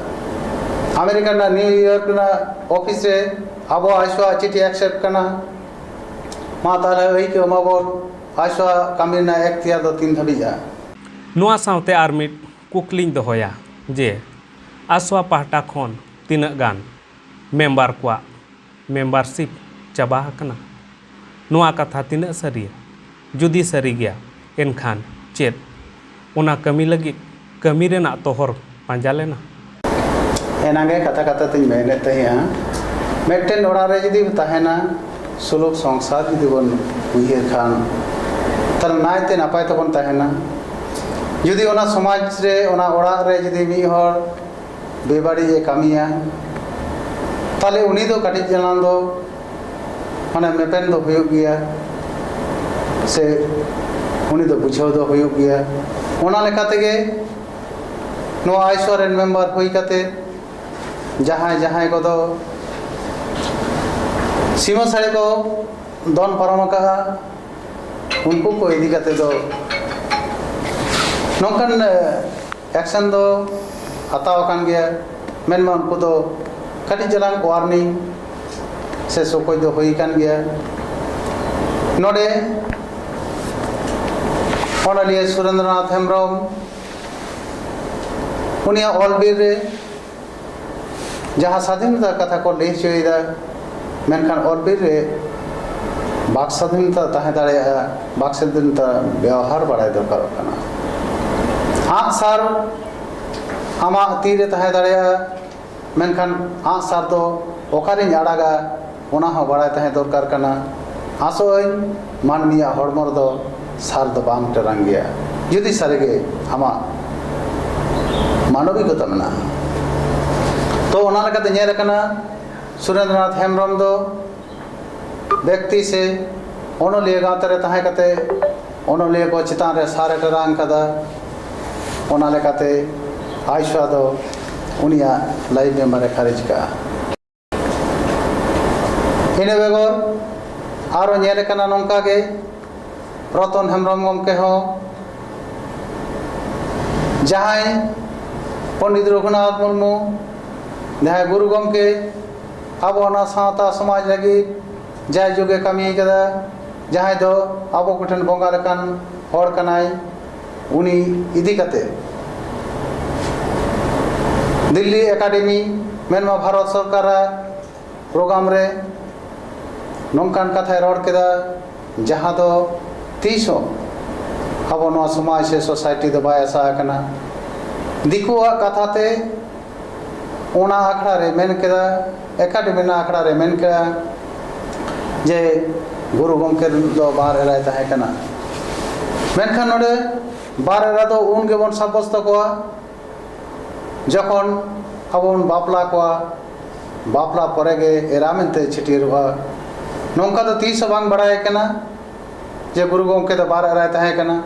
ᱟᱢᱮᱨᱤᱠᱟ ᱨᱮᱱᱟᱜ ᱱᱤᱭᱩᱭᱚᱨᱠ ᱨᱮᱱᱟᱜ ᱚᱯᱷᱤᱥ ᱨᱮ ᱟᱵᱚ ᱟᱭᱥᱳᱣᱟᱜ ᱪᱤᱴᱷᱤ ᱮᱠᱥᱮᱯᱴ ᱠᱟᱱᱟ ᱢᱟ ᱛᱟᱦᱚᱞᱮ ᱟᱹᱭᱠᱟᱹᱣ ᱢᱟᱵᱚᱱ ᱟᱭᱥᱳᱣᱟᱜ ᱠᱟᱹᱢᱤ ᱨᱮᱱᱟᱜ ᱮᱠᱛᱤᱭᱟᱨ ᱫᱚ ᱛᱤᱱ ᱫᱷᱟᱹᱵᱤᱡᱼᱟ ᱱᱚᱣᱟ ᱥᱟᱶᱛᱮ ᱟᱨ ᱢᱤᱫ ᱠᱩᱠᱞᱤᱧ ᱫᱚᱦᱚᱭᱟ ᱡᱮ ᱟᱥᱣᱟ ᱯᱟᱦᱴᱟ ᱠᱷᱚᱱ ᱛᱤᱱᱟᱹᱜ ᱜᱟᱱ ᱢᱮᱢᱵᱟᱨ ᱠᱚᱣᱟᱜ ᱢᱮᱢᱵᱟᱨᱥᱤᱯ ᱪᱟᱵᱟ ᱟᱠᱟᱱᱟ? ᱱᱚᱣᱟ ᱠᱟᱛᱷᱟ ᱛᱤᱱᱟᱹᱜ ᱥᱟᱹᱨᱤᱭᱟ? ᱡᱩᱫᱤ ᱥᱟᱹᱨᱤ ᱜᱮᱭᱟ ᱮᱱᱠᱷᱟᱱ ᱪᱮᱫ ᱚᱱᱟ ᱠᱟᱹᱢᱤ ᱞᱟᱹᱜᱤᱫ ᱠᱟᱹᱢᱤ ᱨᱮᱱᱟᱜ ᱛᱚᱦᱚᱨ ᱯᱟᱸᱡᱟ ᱞᱮᱱᱟ? ᱮᱱᱟᱝ ᱜᱮ ᱠᱟᱛᱷᱟ ᱠᱟᱛᱷᱟ ᱛᱤᱧ ᱢᱮᱱᱮᱫ ᱛᱟᱦᱮᱸᱜᱼᱟ ᱢᱤᱫᱴᱮᱱ ᱚᱲᱟᱜ ᱨᱮ ᱡᱩᱫᱤ ᱛᱟᱦᱮᱱᱟ ᱥᱩᱞᱩᱠ ᱥᱚᱝᱥᱟᱨ ᱡᱩᱫᱤ ᱵᱚᱱ ᱩᱭᱦᱟᱹᱨ ᱠᱷᱟᱱ ᱛᱟᱦᱚᱞᱮ ᱱᱟᱭᱛᱮ ᱱᱟᱯᱟᱭ ᱛᱮᱵᱚᱱ ᱛᱟᱦᱮᱱᱟ ᱡᱩᱫᱤ ᱚᱱᱟ ᱥᱚᱢᱟᱡᱽ ᱨᱮ ᱚᱱᱟ ᱚᱲᱟᱜ ᱨᱮ ᱡᱩᱫᱤ ᱢᱤᱫ ᱦᱚᱲ ᱵᱮᱵᱟᱹᱲᱤᱡ ᱮ ᱠᱟᱹᱢᱤᱭᱟ ᱛᱟᱦᱚᱞᱮ ᱩᱱᱤ ᱫᱚ ᱠᱟᱹᱴᱤᱡ ᱪᱟᱞᱟᱝ ᱫᱚ ᱢᱟᱱᱮ ᱢᱮᱯᱮᱱ ᱫᱚ ᱦᱩᱭᱩᱜ ᱜᱮᱭᱟ ᱥᱮ ᱩᱱᱤ ᱫᱚ ᱵᱩᱡᱷᱟᱹᱣ ᱫᱚ ᱦᱩᱭᱩᱜ ᱜᱮᱭᱟ ᱚᱱᱟ ᱞᱮᱠᱟ ᱛᱮᱜᱮ ᱱᱚᱣᱟ ᱟᱭᱥᱚ ᱨᱮᱱ ᱢᱮᱢᱵᱟᱨ ᱦᱩᱭ ᱠᱟᱛᱮ ᱡᱟᱦᱟᱸᱭ ᱡᱟᱦᱟᱸᱭ ᱠᱚᱫᱚ ᱥᱤᱢᱟᱹ ᱥᱟᱹᱲᱤ ᱠᱚ ᱫᱚᱱ ᱯᱟᱨᱚᱢ ᱟᱠᱟᱫᱼᱟ ᱩᱱᱠᱩ ᱠᱚ ᱤᱫᱤ ᱠᱟᱛᱮ ᱫᱚ ᱱᱚᱝᱠᱟᱱ ᱮᱠᱥᱮᱱ ᱫᱚ ᱦᱟᱛᱟᱣ ᱟᱠᱟᱱ ᱜᱮᱭᱟ ᱢᱮᱱᱢᱟ ᱩᱱᱠᱩ ᱫᱚ ᱠᱟᱹᱴᱤᱡ ᱪᱟᱞᱟᱝ ᱳᱣᱟᱨᱱᱤᱝ ᱥᱮ ᱥᱚᱠᱚᱡ ᱫᱚ ᱦᱩᱭ ᱟᱠᱟᱱ ᱜᱮᱭᱟ ᱱᱚᱰᱮ ᱚᱱᱚᱞᱤᱭᱟᱹ ᱥᱩᱨᱮᱱᱫᱨᱚᱱᱟᱛᱷ ᱦᱮᱢᱵᱨᱚᱢ ᱩᱱᱤᱭᱟᱜ ᱚᱞ ᱵᱤᱨ ᱨᱮ ᱡᱟᱦᱟᱸ ᱥᱟᱫᱷᱤᱱᱚᱛᱟ ᱠᱟᱛᱷᱟ ᱠᱚ ᱞᱟᱹᱭ ᱦᱚᱪᱚᱭᱮᱫᱟ ᱢᱮᱱᱠᱷᱟᱱ ᱚᱞ ᱵᱤᱨ ᱨᱮ ᱵᱟᱠ ᱥᱟᱫᱷᱤᱱᱚᱛᱟ ᱛᱟᱦᱮᱸ ᱫᱟᱲᱮᱭᱟᱜᱼᱟ ᱵᱟᱠ ᱥᱟᱫᱷᱤᱱᱚᱛᱟ ᱵᱮᱣᱦᱟᱨ ᱵᱟᱲᱟᱭ ᱫᱚᱨᱠᱟᱨᱚᱜ ᱠᱟᱱᱟ ᱟᱸᱜᱼᱥᱟᱨ ᱟᱢᱟᱜ ᱛᱤᱨᱮ ᱛᱟᱦᱮᱸ ᱫᱟᱲᱮᱭᱟᱜᱼᱟ ᱢᱮᱱᱠᱷᱟᱱ ᱟᱸᱜ ᱥᱟᱨ ᱫᱚ ᱚᱠᱟᱨᱮᱧ ᱟᱲᱟᱜᱟ ᱚᱱᱟ ᱦᱚᱸ ᱵᱟᱲᱟᱭ ᱛᱟᱦᱮᱸ ᱫᱚᱨᱠᱟᱨ ᱠᱟᱱᱟ ᱟᱥᱚᱜ ᱟᱹᱧ ᱢᱟᱹᱱᱢᱤᱭᱟᱜ ᱦᱚᱲᱢᱚ ᱨᱮᱫᱚ ᱥᱟᱨ ᱫᱚ ᱵᱟᱝ ᱴᱮᱨᱟᱝ ᱜᱮᱭᱟ ᱡᱩᱫᱤ ᱥᱟᱹᱨᱤ ᱜᱮ ᱟᱢᱟᱜ ᱢᱟᱱᱚᱵᱤᱠᱚᱛᱟ ᱢᱮᱱᱟᱜᱼᱟ ᱛᱚ ᱚᱱᱟ ᱞᱮᱠᱟᱛᱮ ᱧᱮᱞ ᱟᱠᱟᱱᱟ ᱥᱩᱨᱮᱱᱫᱨᱚᱱᱟᱛᱷ ᱦᱮᱢᱵᱨᱚᱢ ᱫᱚ ᱵᱮᱠᱛᱤ ᱥᱮ ᱚᱱᱚᱞᱤᱭᱟᱹ ᱜᱟᱶᱛᱟ ᱨᱮ ᱛᱟᱦᱮᱸ ᱠᱟᱛᱮ ᱚᱱᱚᱞᱤᱭᱟᱹ ᱠᱚ ᱪᱮᱛᱟᱱ ᱨᱮ ᱥᱟᱨᱮ ᱴᱮᱨᱟᱝ ᱠᱟᱫᱟ ᱚᱱᱟ ᱞᱮᱠᱟᱛᱮ ᱟᱭᱥᱣᱟ ᱫᱚ ᱩᱱᱤᱭᱟᱜ ᱞᱟᱭᱤᱵ ᱢᱮᱢᱵᱟᱨ ᱮ ᱠᱷᱟᱨᱤᱡ ᱠᱟᱜᱼᱟ ᱤᱱᱟᱹ ᱵᱮᱜᱚᱨ ᱟᱨᱚ ᱧᱮᱞ ᱟᱠᱟᱱᱟ ᱱᱚᱝᱠᱟ ᱜᱮ ᱨᱚᱛᱚᱱ ᱦᱮᱢᱵᱨᱚᱢ ᱜᱚᱢᱠᱮ ᱦᱚᱸ ᱡᱟᱦᱟᱸᱭ ᱯᱚᱱᱰᱤᱛ ᱨᱚᱜᱷᱩᱱᱟᱛᱷ ᱢᱩᱨᱢᱩ ᱡᱟᱦᱟᱸᱭ ᱜᱩᱨᱩ ᱜᱚᱢᱠᱮ ᱟᱵᱚ ᱱᱚᱣᱟ ᱥᱟᱶᱛᱟ ᱥᱚᱢᱟᱡᱽ ᱞᱟᱹᱜᱤᱫ ᱡᱟᱭ ᱡᱩᱜᱽ ᱮ ᱠᱟᱹᱢᱤ ᱟᱠᱟᱫᱟ ᱡᱟᱦᱟᱸᱭ ᱫᱚ ᱟᱵᱚ ᱠᱚᱴᱷᱮᱱ ᱵᱚᱸᱜᱟ ᱞᱮᱠᱟᱱ ᱦᱚᱲ ᱠᱟᱱᱟᱭ ᱩᱱᱤ ᱤᱫᱤ ᱠᱟᱛᱮ ᱫᱤᱞᱞᱤ ᱮᱠᱟᱰᱮᱢᱤ ᱢᱮᱱᱢᱟ ᱵᱷᱟᱨᱚᱛ ᱥᱚᱨᱠᱟᱨᱟᱜ ᱯᱨᱳᱜᱨᱟᱢ ᱨᱮ ᱱᱚᱝᱠᱟᱱ ᱠᱟᱛᱷᱟᱭ ᱨᱚᱲ ᱠᱮᱫᱟ ᱡᱟᱦᱟᱸ ᱫᱚ ᱛᱤᱥ ᱦᱚᱸ ᱟᱵᱚ ᱱᱚᱣᱟ ᱥᱚᱢᱟᱡᱽ ᱥᱮ ᱥᱳᱥᱟᱭᱴᱤ ᱫᱚ ᱵᱟᱭ ᱟᱥᱟ ᱟᱠᱟᱱᱟ ᱫᱤᱠᱩᱣᱟᱜ ᱠᱟᱛᱷᱟ ᱛᱮ ᱚᱱᱟ ᱟᱠᱷᱲᱟ ᱨᱮ ᱢᱮᱱ ᱠᱮᱫᱟ ᱮᱠᱟᱰᱮᱢᱤ ᱨᱮᱱᱟᱜ ᱟᱠᱷᱲᱟ ᱨᱮ ᱢᱮᱱ ᱠᱮᱫᱟ ᱡᱮ ᱜᱩᱨᱩ ᱜᱚᱢᱠᱮ ᱫᱚ ᱵᱟᱨ ᱮᱨᱟᱭ ᱛᱟᱦᱮᱸ ᱠᱟᱱᱟ ᱢᱮᱱᱠᱷᱟᱱ ᱱᱚᱰᱮ ᱵᱟᱨ ᱮᱨᱟ ᱫᱚ ᱩᱱ ᱜᱮᱵᱚᱱ ᱥᱟᱵᱚᱥᱛᱚ ᱠᱚᱣᱟ ᱡᱚᱠᱷᱚᱱ ᱟᱵᱚ ᱵᱚᱱ ᱵᱟᱯᱞᱟ ᱠᱚᱣᱟ ᱵᱟᱯᱞᱟ ᱯᱚᱨᱮ ᱜᱮ ᱮᱨᱟ ᱢᱮᱱᱛᱮ ᱪᱷᱟᱹᱴᱭᱟᱹᱨᱚᱜᱼᱟ ᱱᱚᱝᱠᱟ ᱫᱚ ᱛᱤᱥ ᱦᱚᱸ ᱵᱟᱝ ᱵᱟᱲᱟᱭ ᱠᱟᱱᱟ ᱡᱮ ᱜᱩᱨᱩ ᱜᱚᱢᱠᱮ ᱫᱚ ᱵᱟᱨ ᱮᱨᱟᱭ ᱛᱟᱦᱮᱸ ᱠᱟᱱᱟ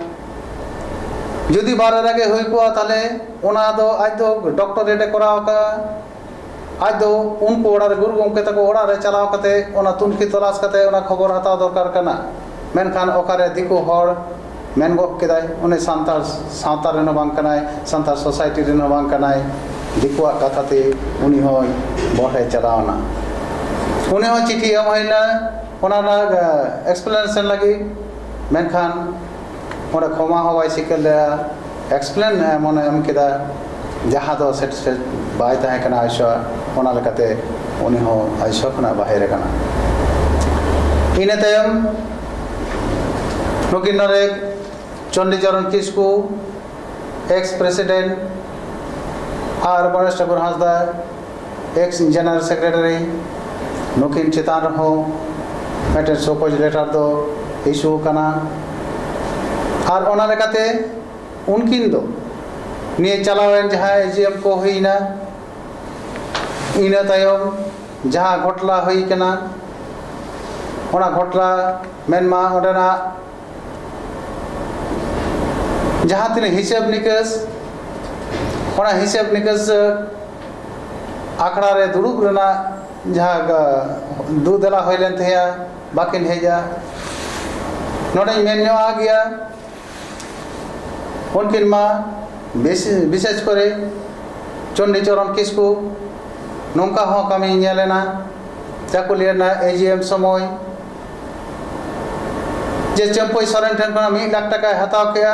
ᱡᱩᱫᱤ ᱵᱟᱨ ᱮᱨᱟ ᱜᱮ ᱦᱩᱭ ᱠᱚᱜᱼᱟ ᱛᱟᱦᱚᱞᱮ ᱚᱱᱟ ᱫᱚ ᱟᱡ ᱫᱚ ᱰᱚᱠᱴᱚᱨᱮᱴ ᱮ ᱠᱚᱨᱟᱣ ᱟᱠᱟᱫᱼᱟ ᱟᱡ ᱫᱚ ᱩᱱᱠᱩ ᱚᱲᱟᱜ ᱨᱮ ᱜᱩᱨᱩ ᱜᱚᱢᱠᱮ ᱛᱟᱠᱚ ᱚᱲᱟᱜ ᱨᱮ ᱪᱟᱞᱟᱣ ᱠᱟᱛᱮ ᱚᱱᱟ ᱛᱩᱱᱠᱷᱤ ᱛᱚᱞᱟᱥ ᱠᱟᱛᱮ ᱚᱱᱟ ᱠᱷᱚᱵᱚᱨ ᱦᱟᱛᱟᱣ ᱫᱚᱨᱠᱟᱨ ᱠᱟᱱᱟ ᱢᱮᱱᱠᱷᱟᱱ ᱚᱠᱟᱨᱮ ᱫᱤᱠᱩ ᱦᱚᱲ ᱢᱮᱱ ᱜᱚᱫ ᱠᱮᱫᱟᱭ ᱩᱱᱤ ᱥᱟᱱᱛᱟᱲ ᱥᱟᱶᱛᱟ ᱨᱮᱱ ᱦᱚᱸ ᱵᱟᱝ ᱠᱟᱱᱟᱭ ᱥᱟᱱᱛᱟᱲ ᱥᱳᱥᱟᱭᱴᱤ ᱨᱮᱱ ᱦᱚᱸ ᱵᱟᱝ ᱠᱟᱱᱟᱭ ᱫᱤᱠᱩᱣᱟᱜ ᱠᱟᱛᱷᱟ ᱛᱮ ᱩᱱᱤ ᱦᱚᱸᱭ ᱵᱚᱦᱮ ᱪᱟᱞᱟᱣᱱᱟ ᱩᱱᱤ ᱦᱚᱸ ᱪᱤᱴᱷᱤ ᱮᱢ ᱦᱩᱭᱱᱟ ᱚᱱᱟ ᱨᱮᱱᱟᱜ ᱮᱠᱥᱯᱞᱮᱱᱮᱥᱚᱱ ᱞᱟᱹᱜᱤᱫ ᱢᱮᱱᱠᱷᱟᱱ ᱚᱸᱰᱮ ᱠᱷᱚᱢᱟ ᱦᱚᱸ ᱵᱟᱭ ᱥᱤᱠᱟᱹᱨ ᱞᱮᱫᱟ ᱮᱠᱥᱯᱞᱮᱱ ᱮᱢᱚᱱᱮ ᱮᱢ ᱠᱮᱫᱟ ᱡᱟᱦᱟᱸ ᱫᱚ ᱥᱮᱴᱤᱥᱯᱷᱟᱭᱤᱰ ᱵᱟᱭ ᱛᱟᱦᱮᱸ ᱠᱟᱱᱟ ᱟᱭᱥᱟ ᱚᱱᱟ ᱞᱮᱠᱟᱛᱮ ᱩᱱᱤ ᱦᱚᱸ ᱟᱭᱥᱟ ᱠᱷᱚᱱᱟᱜ ᱵᱟᱦᱮᱨ ᱟᱠᱟᱱᱟ ᱤᱱᱟᱹ ᱛᱟᱭᱚᱢ ᱱᱩᱠᱤᱱ ᱱᱚᱰᱮ ᱪᱚᱱᱰᱤᱪᱚᱨᱚᱱ ᱠᱤᱥᱠᱩ ᱮᱠᱥ ᱯᱨᱮᱥᱤᱰᱮᱱᱴ ᱟᱨ Ganesh Thakur Hansda ex general secretary ᱱᱩᱠᱤᱱ ᱪᱮᱛᱟᱱ ᱨᱮᱦᱚᱸ ᱢᱤᱫᱴᱮᱱ ᱥᱚᱠᱚᱡᱽ ᱞᱮᱴᱟᱨ ᱫᱚ ᱤᱥᱩ ᱟᱠᱟᱱᱟ ᱟᱨ ᱚᱱᱟ ᱞᱮᱠᱟᱛᱮ ᱩᱱᱠᱤᱱ ᱫᱚ ᱱᱤᱭᱟᱹ ᱪᱟᱞᱟᱣᱮᱱ ᱡᱟᱦᱟᱸ ᱮ ᱡᱤ ᱮᱢ ᱠᱚ ᱦᱩᱭᱱᱟ ᱤᱱᱟᱹ ᱛᱟᱭᱚᱢ ᱡᱟᱦᱟᱸ ᱜᱷᱚᱴᱞᱟ ᱦᱩᱭ ᱠᱟᱱᱟ ᱚᱱᱟ ᱜᱷᱚᱴᱞᱟ ᱢᱮᱱᱢᱟ ᱚᱸᱰᱮᱱᱟᱜ ᱡᱟᱦᱟᱸ ᱛᱤᱱᱟᱹᱜ ᱦᱤᱥᱟᱹᱵ ᱱᱤᱠᱟᱹᱥ ᱚᱱᱟ ᱦᱤᱥᱟᱹᱵ ᱱᱤᱠᱟᱹᱥ ᱟᱠᱷᱲᱟ ᱨᱮ ᱫᱩᱲᱩᱵ ᱨᱮᱱᱟᱜ ᱡᱟᱦᱟᱸ ᱫᱩ ᱫᱮᱞᱟ ᱦᱩᱭ ᱞᱮᱱ ᱛᱟᱦᱮᱸᱭᱟ ᱵᱟᱹᱠᱤᱱ ᱦᱮᱡᱼᱟ ᱱᱚᱰᱮᱧ ᱢᱮᱱ ᱧᱚᱜ ᱟᱜ ᱜᱮᱭᱟ ᱩᱱᱠᱤᱱ ᱢᱟ ᱵᱤᱥᱮᱥ ᱠᱚᱨᱮ ᱪᱚᱱᱰᱤᱪᱚᱨᱚᱱ ᱠᱤᱥᱠᱩ ᱱᱚᱝᱠᱟ ᱦᱚᱸ ᱠᱟᱹᱢᱤ ᱧᱮᱞᱮᱱᱟ ᱪᱟᱹᱠᱩᱞᱤᱭᱟᱹ ᱨᱮᱱᱟᱜ ᱮᱡᱤᱮᱢ ᱥᱚᱢᱚᱭ ᱡᱮ ᱪᱟᱹᱢᱯᱟᱹᱭ ᱥᱚᱨᱮᱱ ᱴᱷᱮᱱ ᱠᱷᱚᱱᱟᱜ ᱢᱤᱫ ᱞᱟᱠᱷ ᱴᱟᱠᱟᱭ ᱦᱟᱛᱟᱣ ᱠᱮᱜᱼᱟ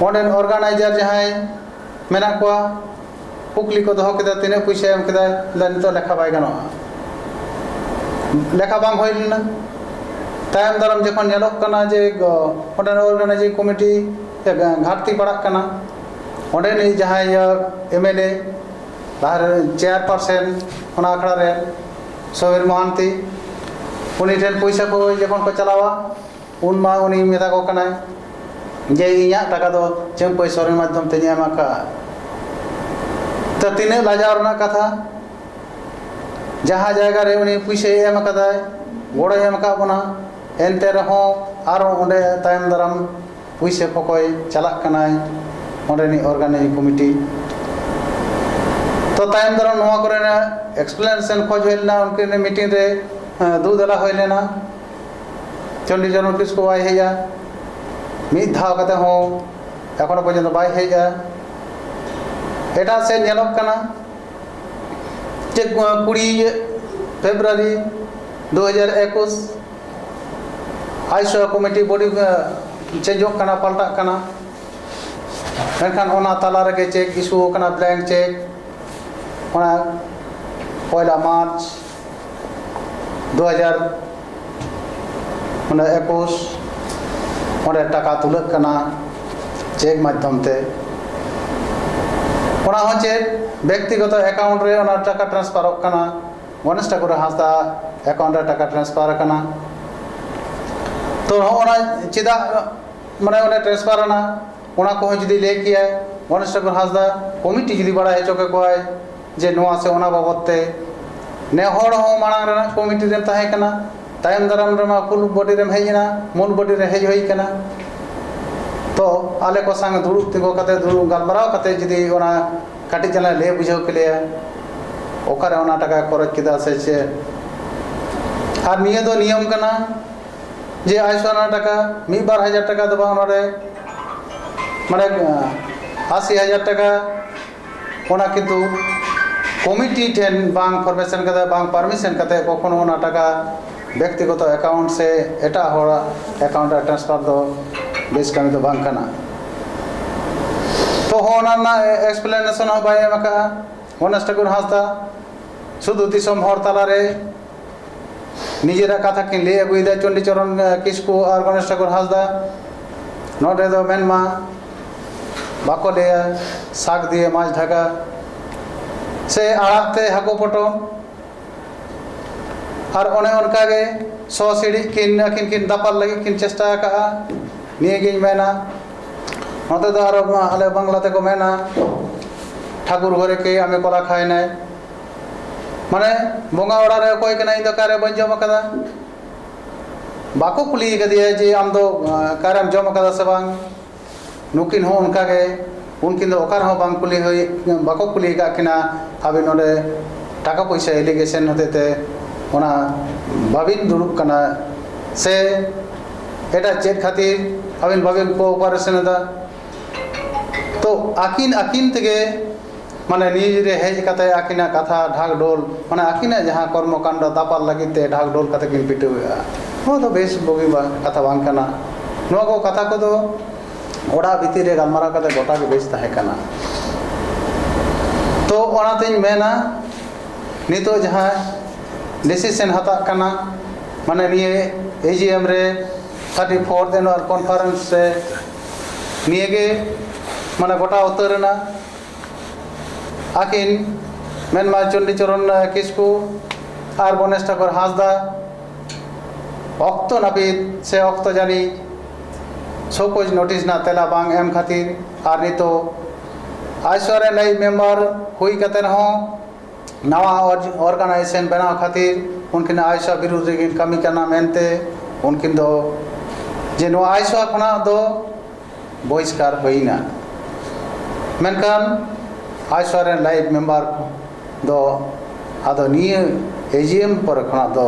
ᱚᱸᱰᱮᱱ ᱚᱨᱜᱟᱱᱟᱭᱡᱟᱨ ᱡᱟᱦᱟᱸᱭ ᱢᱮᱱᱟᱜ ᱠᱚᱣᱟ ᱠᱩᱠᱞᱤ ᱠᱚ ᱫᱚᱦᱚ ᱠᱮᱫᱟ ᱛᱤᱱᱟᱹᱜ ᱯᱩᱭᱥᱟᱹ ᱮᱢ ᱠᱮᱫᱟ ᱞᱟᱹᱭ ᱱᱤᱛᱚᱜ ᱞᱮᱠᱷᱟ ᱵᱟᱭ ᱜᱟᱱᱚᱜᱼᱟ ᱞᱮᱠᱷᱟ ᱵᱟᱝ ᱦᱩᱭ ᱞᱮᱱᱟ ᱛᱟᱭᱚᱢ ᱫᱟᱨᱟᱢ ᱡᱚᱠᱷᱚᱱ ᱧᱮᱞᱚᱜ ᱠᱟᱱᱟ ᱡᱮ ᱚᱸᱰᱮᱱ ᱚᱨᱜᱟᱱᱟᱭᱡᱤᱝ ᱠᱚᱢᱤᱴᱤ ᱜᱷᱟᱴᱛᱤ ᱯᱟᱲᱟᱜ ᱠᱟᱱᱟ ᱚᱸᱰᱮᱱᱤᱡ ᱡᱟᱦᱟᱸᱭ ᱮᱢᱮᱞᱮ ᱞᱟᱦᱟᱨᱮ ᱪᱮᱭᱟᱨ ᱯᱟᱨᱥᱮᱱ ᱚᱱᱟ ᱟᱠᱷᱲᱟ ᱨᱮ ᱥᱚᱵᱤᱨ ᱢᱚᱦᱟᱱᱛᱤ ᱩᱱᱤ ᱴᱷᱮᱱ ᱯᱚᱭᱥᱟ ᱠᱚ ᱡᱚᱠᱷᱚᱱ ᱠᱚ ᱪᱟᱞᱟᱣᱟ ᱩᱱ ᱢᱟ ᱩᱱᱤ ᱢᱮᱛᱟ ᱠᱚ ᱠᱟᱱᱟᱭ ᱡᱮ ᱤᱧᱟᱹᱜ ᱴᱟᱠᱟ ᱫᱚ ᱪᱟᱹᱢᱯᱟᱹᱭ ᱥᱚᱨᱮᱱ ᱢᱟᱫᱽᱫᱷᱚᱢ ᱛᱮᱧ ᱮᱢ ᱟᱠᱟᱫᱼᱟ ᱛᱚ ᱛᱤᱱᱟᱹᱜ ᱞᱟᱡᱟᱣ ᱨᱮᱱᱟᱜ ᱠᱟᱛᱷᱟ ᱡᱟᱦᱟᱸ ᱡᱟᱭᱜᱟ ᱨᱮ ᱩᱱᱤ ᱯᱩᱭᱥᱟᱹᱭ ᱮᱢ ᱟᱠᱟᱫᱟᱭ ᱜᱚᱲᱚᱭ ᱮᱢ ᱟᱠᱟᱫ ᱵᱚᱱᱟ ᱮᱱᱛᱮ ᱨᱮᱦᱚᱸ ᱟᱨᱚ ᱚᱸᱰᱮ ᱛᱟᱭᱚᱢ ᱫᱟᱨᱟᱢ ᱯᱩᱭᱥᱟᱹ ᱠᱚᱠᱚᱭ ᱪᱟᱞᱟᱜ ᱠᱟᱱᱟᱭ ᱚᱸᱰᱮᱱᱤᱡ ᱚᱨᱜᱟᱱᱤᱡ ᱠᱚᱢᱤᱴᱤ ᱛᱚ ᱛᱟᱭᱚᱢ ᱫᱟᱨᱟᱢ ᱱᱚᱣᱟ ᱠᱚᱨᱮᱱᱟᱜ ᱮᱠᱥᱯᱞᱮᱱᱮᱥᱚᱱ ᱠᱷᱚᱡ ᱦᱩᱭ ᱞᱮᱱᱟ ᱩᱱᱠᱤᱱ ᱢᱤᱴᱤᱝ ᱨᱮ ᱫᱩ ᱫᱟᱞᱟ ᱦᱩᱭ ᱞᱮᱱᱟ ᱪᱚᱱᱰᱤᱜᱚᱲ ᱱᱳᱴᱤᱥ ᱠᱚ ᱵᱟᱭ ᱦᱮᱡᱼᱟ ᱢᱤᱫ ᱫᱷᱟᱣ ᱠᱟᱛᱮ ᱦᱚᱸ ᱮᱠᱷᱚᱱᱚ ᱯᱚᱨᱡᱚᱱᱛᱚ ᱵᱟᱭ ᱦᱮᱡᱼᱟ ᱮᱴᱟᱜ ᱥᱮᱫ ᱧᱮᱞᱚᱜ ᱠᱟᱱᱟ ᱡᱮ ᱠᱩᱲᱤ ᱯᱷᱮᱵᱽᱨᱩᱣᱟᱨᱤ ᱫᱩ ᱦᱟᱡᱟᱨ ᱮᱠᱩᱥ ᱟᱭᱥᱚ ᱠᱚᱢᱤᱴᱤ ᱵᱚᱰᱤ ᱪᱮᱧᱡᱚᱜ ᱠᱟᱱᱟ ᱯᱟᱞᱴᱟᱜ ᱠᱟᱱᱟ ᱢᱮᱱᱠᱷᱟᱱ ᱚᱱᱟ ᱛᱟᱞᱟ ᱨᱮᱜᱮ ᱪᱮᱠ ᱤᱥᱩ ᱟᱠᱟᱱᱟ ᱵᱞᱮᱝᱠ ᱪᱮᱠ ᱚᱱᱟ ᱯᱚᱭᱞᱟ ᱢᱟᱨᱪ ᱫᱩ ᱦᱟᱡᱟᱨ ᱚᱱᱟ ᱮᱠᱩᱥ ᱚᱸᱰᱮ ᱴᱟᱠᱟ ᱛᱩᱞᱟᱹᱜ ᱠᱟᱱᱟ ᱪᱮᱠ ᱢᱟᱫᱽᱫᱷᱚᱢ ᱛᱮ ᱚᱱᱟ ᱦᱚᱸ ᱪᱮᱫ ᱵᱮᱠᱛᱤᱜᱚᱛᱚ ᱮᱠᱟᱣᱩᱱᱴ ᱨᱮ ᱚᱱᱟ ᱴᱟᱠᱟ ᱴᱨᱟᱱᱥᱯᱷᱟᱨᱚᱜ ᱠᱟᱱᱟ ᱜᱚᱱᱮᱥ ᱴᱷᱟᱠᱩᱨ ᱦᱟᱸᱥᱫᱟ ᱮᱠᱟᱣᱩᱱᱴ ᱨᱮ ᱴᱟᱠᱟ ᱴᱨᱟᱱᱥᱯᱷᱟᱨ ᱟᱠᱟᱱᱟ ᱛᱚ ᱦᱚᱸᱜᱼᱚᱱᱟ ᱪᱮᱫᱟᱜ ᱢᱟᱱᱮ ᱚᱸᱰᱮ ᱴᱨᱟᱱᱥᱯᱷᱟᱨ ᱮᱱᱟ ᱚᱱᱟ ᱠᱚᱦᱚᱸ ᱡᱩᱫᱤ ᱞᱟᱹᱭ ᱠᱮᱭᱟᱭ ᱜᱚᱱᱮᱥ ᱴᱷᱟᱠᱩᱨ ᱦᱟᱸᱥᱫᱟ ᱠᱚᱢᱤᱴᱤ ᱡᱩᱫᱤ ᱵᱟᱲᱟᱭ ᱦᱚᱪᱚ ᱠᱮᱠᱚᱣᱟᱭ ᱡᱮ ᱱᱚᱣᱟ ᱥᱮ ᱚᱱᱟ ᱵᱟᱵᱚᱫ ᱛᱮ ᱱᱮ ᱦᱚᱲ ᱦᱚᱸ ᱢᱟᱲᱟᱝ ᱨᱮᱱᱟᱜ ᱠᱚᱢᱤᱴᱤ ᱨᱮᱢ ᱛᱟᱦᱮᱸ ᱠᱟᱱᱟ ᱛᱟᱭᱚᱢ ᱫᱟᱨᱟᱢ ᱨᱮᱢᱟ ᱯᱷᱩᱞ ᱵᱚᱰᱤ ᱨᱮᱢ ᱦᱮᱡ ᱮᱱᱟ ᱢᱩᱞ ᱵᱚᱰᱤ ᱨᱮ ᱦᱮᱡ ᱦᱩᱭ ᱠᱟᱱᱟ ᱛᱚ ᱟᱞᱮ ᱠᱚ ᱥᱟᱝ ᱫᱩᱲᱩᱵ ᱛᱤᱸᱜᱩ ᱠᱟᱛᱮ ᱫᱩᱲᱩᱵ ᱜᱟᱞᱢᱟᱨᱟᱣ ᱠᱟᱛᱮ ᱡᱩᱫᱤ ᱚᱱᱟ ᱠᱟᱹᱴᱤᱡ ᱪᱟᱞᱟᱝ ᱞᱟᱹᱭ ᱵᱩᱡᱷᱟᱹᱣ ᱠᱮᱞᱮᱭᱟ ᱚᱠᱟᱨᱮ ᱚᱱᱟ ᱴᱟᱠᱟᱭ ᱠᱷᱚᱨᱚᱪ ᱠᱮᱫᱟ ᱥᱮ ᱪᱮᱫ ᱟᱨ ᱱᱤᱭᱟᱹ ᱫᱚ ᱱᱤᱭᱚᱢ ᱠᱟᱱᱟ ᱡᱮ ᱟᱭᱥᱚ ᱚᱱᱟ ᱴᱟᱠᱟ ᱢᱤᱫ ᱵᱟᱨ ᱦᱟᱡᱟᱨ ᱴᱟᱠᱟ ᱫᱚ ᱵᱟᱝ ᱱᱚᱰᱮ ᱢᱟᱱᱮ ᱟᱥᱤ ᱦᱟᱡᱟᱨ ᱴᱟᱠᱟ ᱚᱱᱟ ᱠᱤᱱᱛᱩ ᱠᱚᱢᱤᱴᱤ ᱴᱷᱮᱱ ᱵᱟᱝ ᱯᱟᱨᱢᱤᱥᱮᱱ ᱠᱟᱛᱮ ᱵᱟᱝ ᱯᱟᱨᱢᱤᱥᱮᱱ ᱠᱟᱛᱮ ᱠᱚᱠᱷᱚᱱᱳ ᱚᱱᱟ ᱴᱟᱠᱟ ᱵᱮᱠᱛᱤᱜᱚᱛᱚ ᱮᱠᱟᱣᱩᱱᱴ ᱥᱮ ᱮᱴᱟᱜ ᱦᱚᱲᱟᱜ ᱮᱠᱟᱣᱩᱱᱴ ᱨᱮ ᱴᱨᱟᱱᱥᱯᱷᱟᱨ ᱫᱚ ᱵᱮᱥ ᱠᱟᱹᱢᱤ ᱫᱚ ᱵᱟᱝ ᱠᱟᱱᱟ ᱛᱚ ᱦᱚᱸ ᱚᱱᱟ ᱨᱮᱱᱟᱜ ᱮᱠᱥᱯᱞᱮᱱᱮᱥᱚᱱ ᱦᱚᱸ ᱵᱟᱭ ᱮᱢ ᱟᱠᱟᱫᱼᱟ ᱜᱚᱱᱮᱥ ᱴᱷᱟᱹᱠᱩᱨ ᱦᱟᱸᱥᱫᱟ ᱥᱩᱫᱷᱩ ᱫᱤᱥᱚᱢ ᱦᱚᱲ ᱛᱟᱞᱟᱨᱮ ᱱᱤᱡᱮᱨᱟᱜ ᱠᱟᱛᱷᱟ ᱠᱤᱱ ᱞᱟᱹᱭ ᱟᱹᱜᱩᱭᱮᱫᱟ ᱪᱚᱱᱰᱤ ᱪᱚᱨᱚᱱ ᱠᱤᱥᱠᱩ ᱟᱨ ᱜᱚᱱᱮᱥ ᱴᱷᱟᱹᱠᱩᱨ ᱦᱟᱸᱥᱫᱟ ᱱᱚᱰᱮ ᱫᱚ ᱢᱮᱱᱢᱟ ᱵᱟᱠᱚ ᱞᱟᱹᱭᱟ ᱥᱟᱠ ᱫᱤᱭᱮ ᱢᱟᱪ ᱰᱷᱟᱠᱟ ᱥᱮ ᱟᱲᱟᱜ ᱛᱮ ᱦᱟᱹᱠᱩ ᱯᱚᱴᱚᱢ ᱟᱨ ᱚᱱᱮ ᱚᱱᱠᱟ ᱜᱮ ᱥᱚ ᱥᱤᱲᱤᱡ ᱠᱤᱱ ᱟᱹᱠᱤᱱ ᱠᱤᱱ ᱫᱟᱯᱟᱞ ᱞᱟᱹᱜᱤᱫ ᱠᱤᱱ ᱪᱮᱥᱴᱟ ᱟᱠᱟᱜᱼᱟ ᱱᱤᱭᱟᱹᱜᱤᱧ ᱢᱮᱱᱟ ᱱᱚᱛᱮ ᱫᱚ ᱟᱨᱚ ᱟᱞᱮ ᱵᱟᱝᱞᱟ ᱛᱮᱠᱚ ᱢᱮᱱᱟ ᱴᱷᱟᱠᱩᱨ ᱜᱷᱚᱨᱮ ᱠᱮ ᱟᱢᱮ ᱠᱚᱞᱟ ᱠᱷᱟᱭᱱᱟᱭ ᱢᱟᱱᱮ ᱵᱚᱸᱜᱟ ᱚᱲᱟᱜ ᱨᱮ ᱚᱠᱚᱭ ᱠᱟᱱᱟᱭ ᱤᱧ ᱫᱚ ᱚᱠᱟᱨᱮ ᱵᱟᱹᱧ ᱡᱚᱢ ᱟᱠᱟᱫᱟ ᱵᱟᱠᱚ ᱠᱩᱞᱤ ᱠᱟᱫᱮᱭᱟ ᱡᱮ ᱟᱢᱫᱚ ᱚᱠᱟᱨᱮᱢ ᱡᱚᱢ ᱠᱟᱫᱟ ᱥᱮ ᱵᱟᱝ ᱱᱩᱠᱤᱱ ᱦᱚᱸ ᱚᱱᱠᱟ ᱜᱮ ᱩᱱᱠᱤᱱ ᱫᱚ ᱚᱠᱟ ᱨᱮᱦᱚᱸ ᱵᱟᱝ ᱠᱩᱞᱤ ᱦᱩᱭ ᱵᱟᱠᱚ ᱠᱩᱞᱤ ᱟᱠᱟᱫ ᱠᱤᱱᱟ ᱟᱵᱤᱱ ᱱᱚᱰᱮ ᱴᱟᱠᱟ ᱯᱚᱭᱥᱟ ᱮᱞᱤᱜᱮᱥᱚᱱ ᱦᱚᱛᱮᱡ ᱛᱮ ᱚᱱᱟ ᱵᱟᱵᱤᱱ ᱫᱩᱲᱩᱵ ᱠᱟᱱᱟ ᱥᱮ ᱮᱴᱟᱜ ᱪᱮᱫ ᱠᱷᱟᱹᱛᱤᱨ ᱟᱵᱤᱱ ᱵᱟᱵᱤᱱ ᱠᱳᱯᱟᱨᱮᱥᱚᱱ ᱮᱫᱟ ᱛᱚ ᱟᱹᱠᱤᱱ ᱟᱹᱠᱤᱱ ᱛᱮᱜᱮ ᱢᱟᱱᱮ ᱱᱤᱭᱩᱡᱽ ᱨᱮ ᱦᱮᱡ ᱠᱟᱛᱮ ᱟᱹᱠᱤᱱᱟᱜ ᱠᱟᱛᱷᱟ ᱰᱷᱟᱠᱰᱷᱳᱞ ᱢᱟᱱᱮ ᱟᱹᱠᱤᱱᱟᱜ ᱡᱟᱦᱟᱸ ᱠᱚᱨᱢᱚ ᱠᱟᱱᱰᱚ ᱫᱟᱯᱟᱞ ᱞᱟᱹᱜᱤᱫ ᱛᱮ ᱰᱷᱟᱠᱰᱷᱳᱞ ᱠᱟᱛᱮ ᱠᱤᱱ ᱯᱤᱴᱟᱹᱣᱮᱜᱼᱟ ᱱᱚᱣᱟ ᱫᱚ ᱵᱮᱥ ᱵᱩᱜᱤ ᱵᱟᱝ ᱠᱟᱛᱷᱟ ᱵᱟᱝ ᱠᱟᱱᱟ ᱱᱚᱣᱟ ᱠᱚ ᱠᱟᱛᱷᱟ ᱠᱚᱫᱚ ᱚᱲᱟᱜ ᱵᱷᱤᱛᱤᱨ ᱨᱮ ᱜᱟᱞᱢᱟᱨᱟᱣ ᱠᱟᱛᱮ ᱜᱚᱴᱟ ᱜᱮ ᱵᱮᱥ ᱛᱟᱦᱮᱸ ᱠᱟᱱᱟ ᱛᱚ ᱚᱱᱟᱛᱤᱧ ᱢᱮᱱᱟ ᱱᱤᱛᱚᱜ ᱡᱟᱦᱟᱸ ᱰᱤᱥᱤᱥᱮᱱ ᱦᱟᱛᱟᱜ ᱠᱟᱱᱟ ᱢᱟᱱᱮ ᱱᱤᱭᱟᱹ ᱮ ᱡᱤ ᱮᱢ ᱨᱮ ᱛᱷᱟᱨᱴᱤ ᱯᱷᱳᱨᱛᱷ ᱮᱱᱩᱣᱟᱞ ᱠᱚᱱᱯᱷᱟᱨᱮᱱᱥ ᱨᱮ ᱱᱤᱭᱟᱹᱜᱮ ᱢᱟᱱᱮ ᱜᱚᱴᱟ ᱩᱛᱟᱹᱨ ᱮᱱᱟ ᱟᱹᱠᱤᱱ ᱢᱮᱱᱢᱟ ᱪᱚᱱᱰᱤᱪᱚᱨᱚᱱ ᱠᱤᱥᱠᱩ ᱟᱨ ᱜᱚᱱᱮᱥ ᱴᱷᱟᱠᱩᱨ ᱦᱟᱸᱥᱫᱟ ᱚᱠᱛᱚ ᱱᱟᱹᱯᱤᱛ ᱥᱮ ᱚᱠᱛᱚ ᱡᱟᱹᱱᱤᱡ ᱥᱚᱠᱳᱡ ᱱᱳᱴᱤᱥ ᱨᱮᱱᱟᱜ ᱛᱮᱞᱟ ᱵᱟᱝ ᱮᱢ ᱠᱷᱟᱹᱛᱤᱨ ᱟᱨ ᱱᱤᱛᱚᱜ ᱟᱭᱥᱚᱨᱮᱱ ᱟᱭᱤᱡ ᱢᱮᱢᱵᱟᱨ ᱦᱩᱭ ᱠᱟᱛᱮ ᱦᱚᱸ ᱱᱟᱣᱟ ᱚᱨᱜᱟᱱᱟᱭᱡᱮᱥᱚᱱ ᱵᱮᱱᱟᱣ ᱠᱷᱟᱹᱛᱤᱨ ᱩᱱᱠᱤᱱ ᱟᱭᱥᱟ ᱵᱤᱨᱩᱫᱷ ᱨᱮᱠᱤᱱ ᱠᱟᱹᱢᱤ ᱠᱟᱱᱟ ᱢᱮᱱᱛᱮ ᱩᱱᱠᱤᱱ ᱫᱚ ᱡᱮ ᱱᱚᱣᱟ ᱟᱭᱥᱟ ᱠᱷᱚᱱᱟᱜ ᱫᱚ ᱵᱚᱦᱤᱥᱠᱟᱨ ᱦᱩᱭᱱᱟ ᱢᱮᱱᱠᱷᱟᱱ ᱟᱭᱥᱟ ᱨᱮᱱ ᱞᱟᱭᱤᱯᱷ ᱢᱮᱢᱵᱟᱨ ᱫᱚ ᱟᱫᱚ ᱱᱤᱭᱟᱹ ᱮᱡᱤᱭᱮᱢ ᱯᱚᱨᱮ ᱠᱷᱚᱱᱟᱜ ᱫᱚ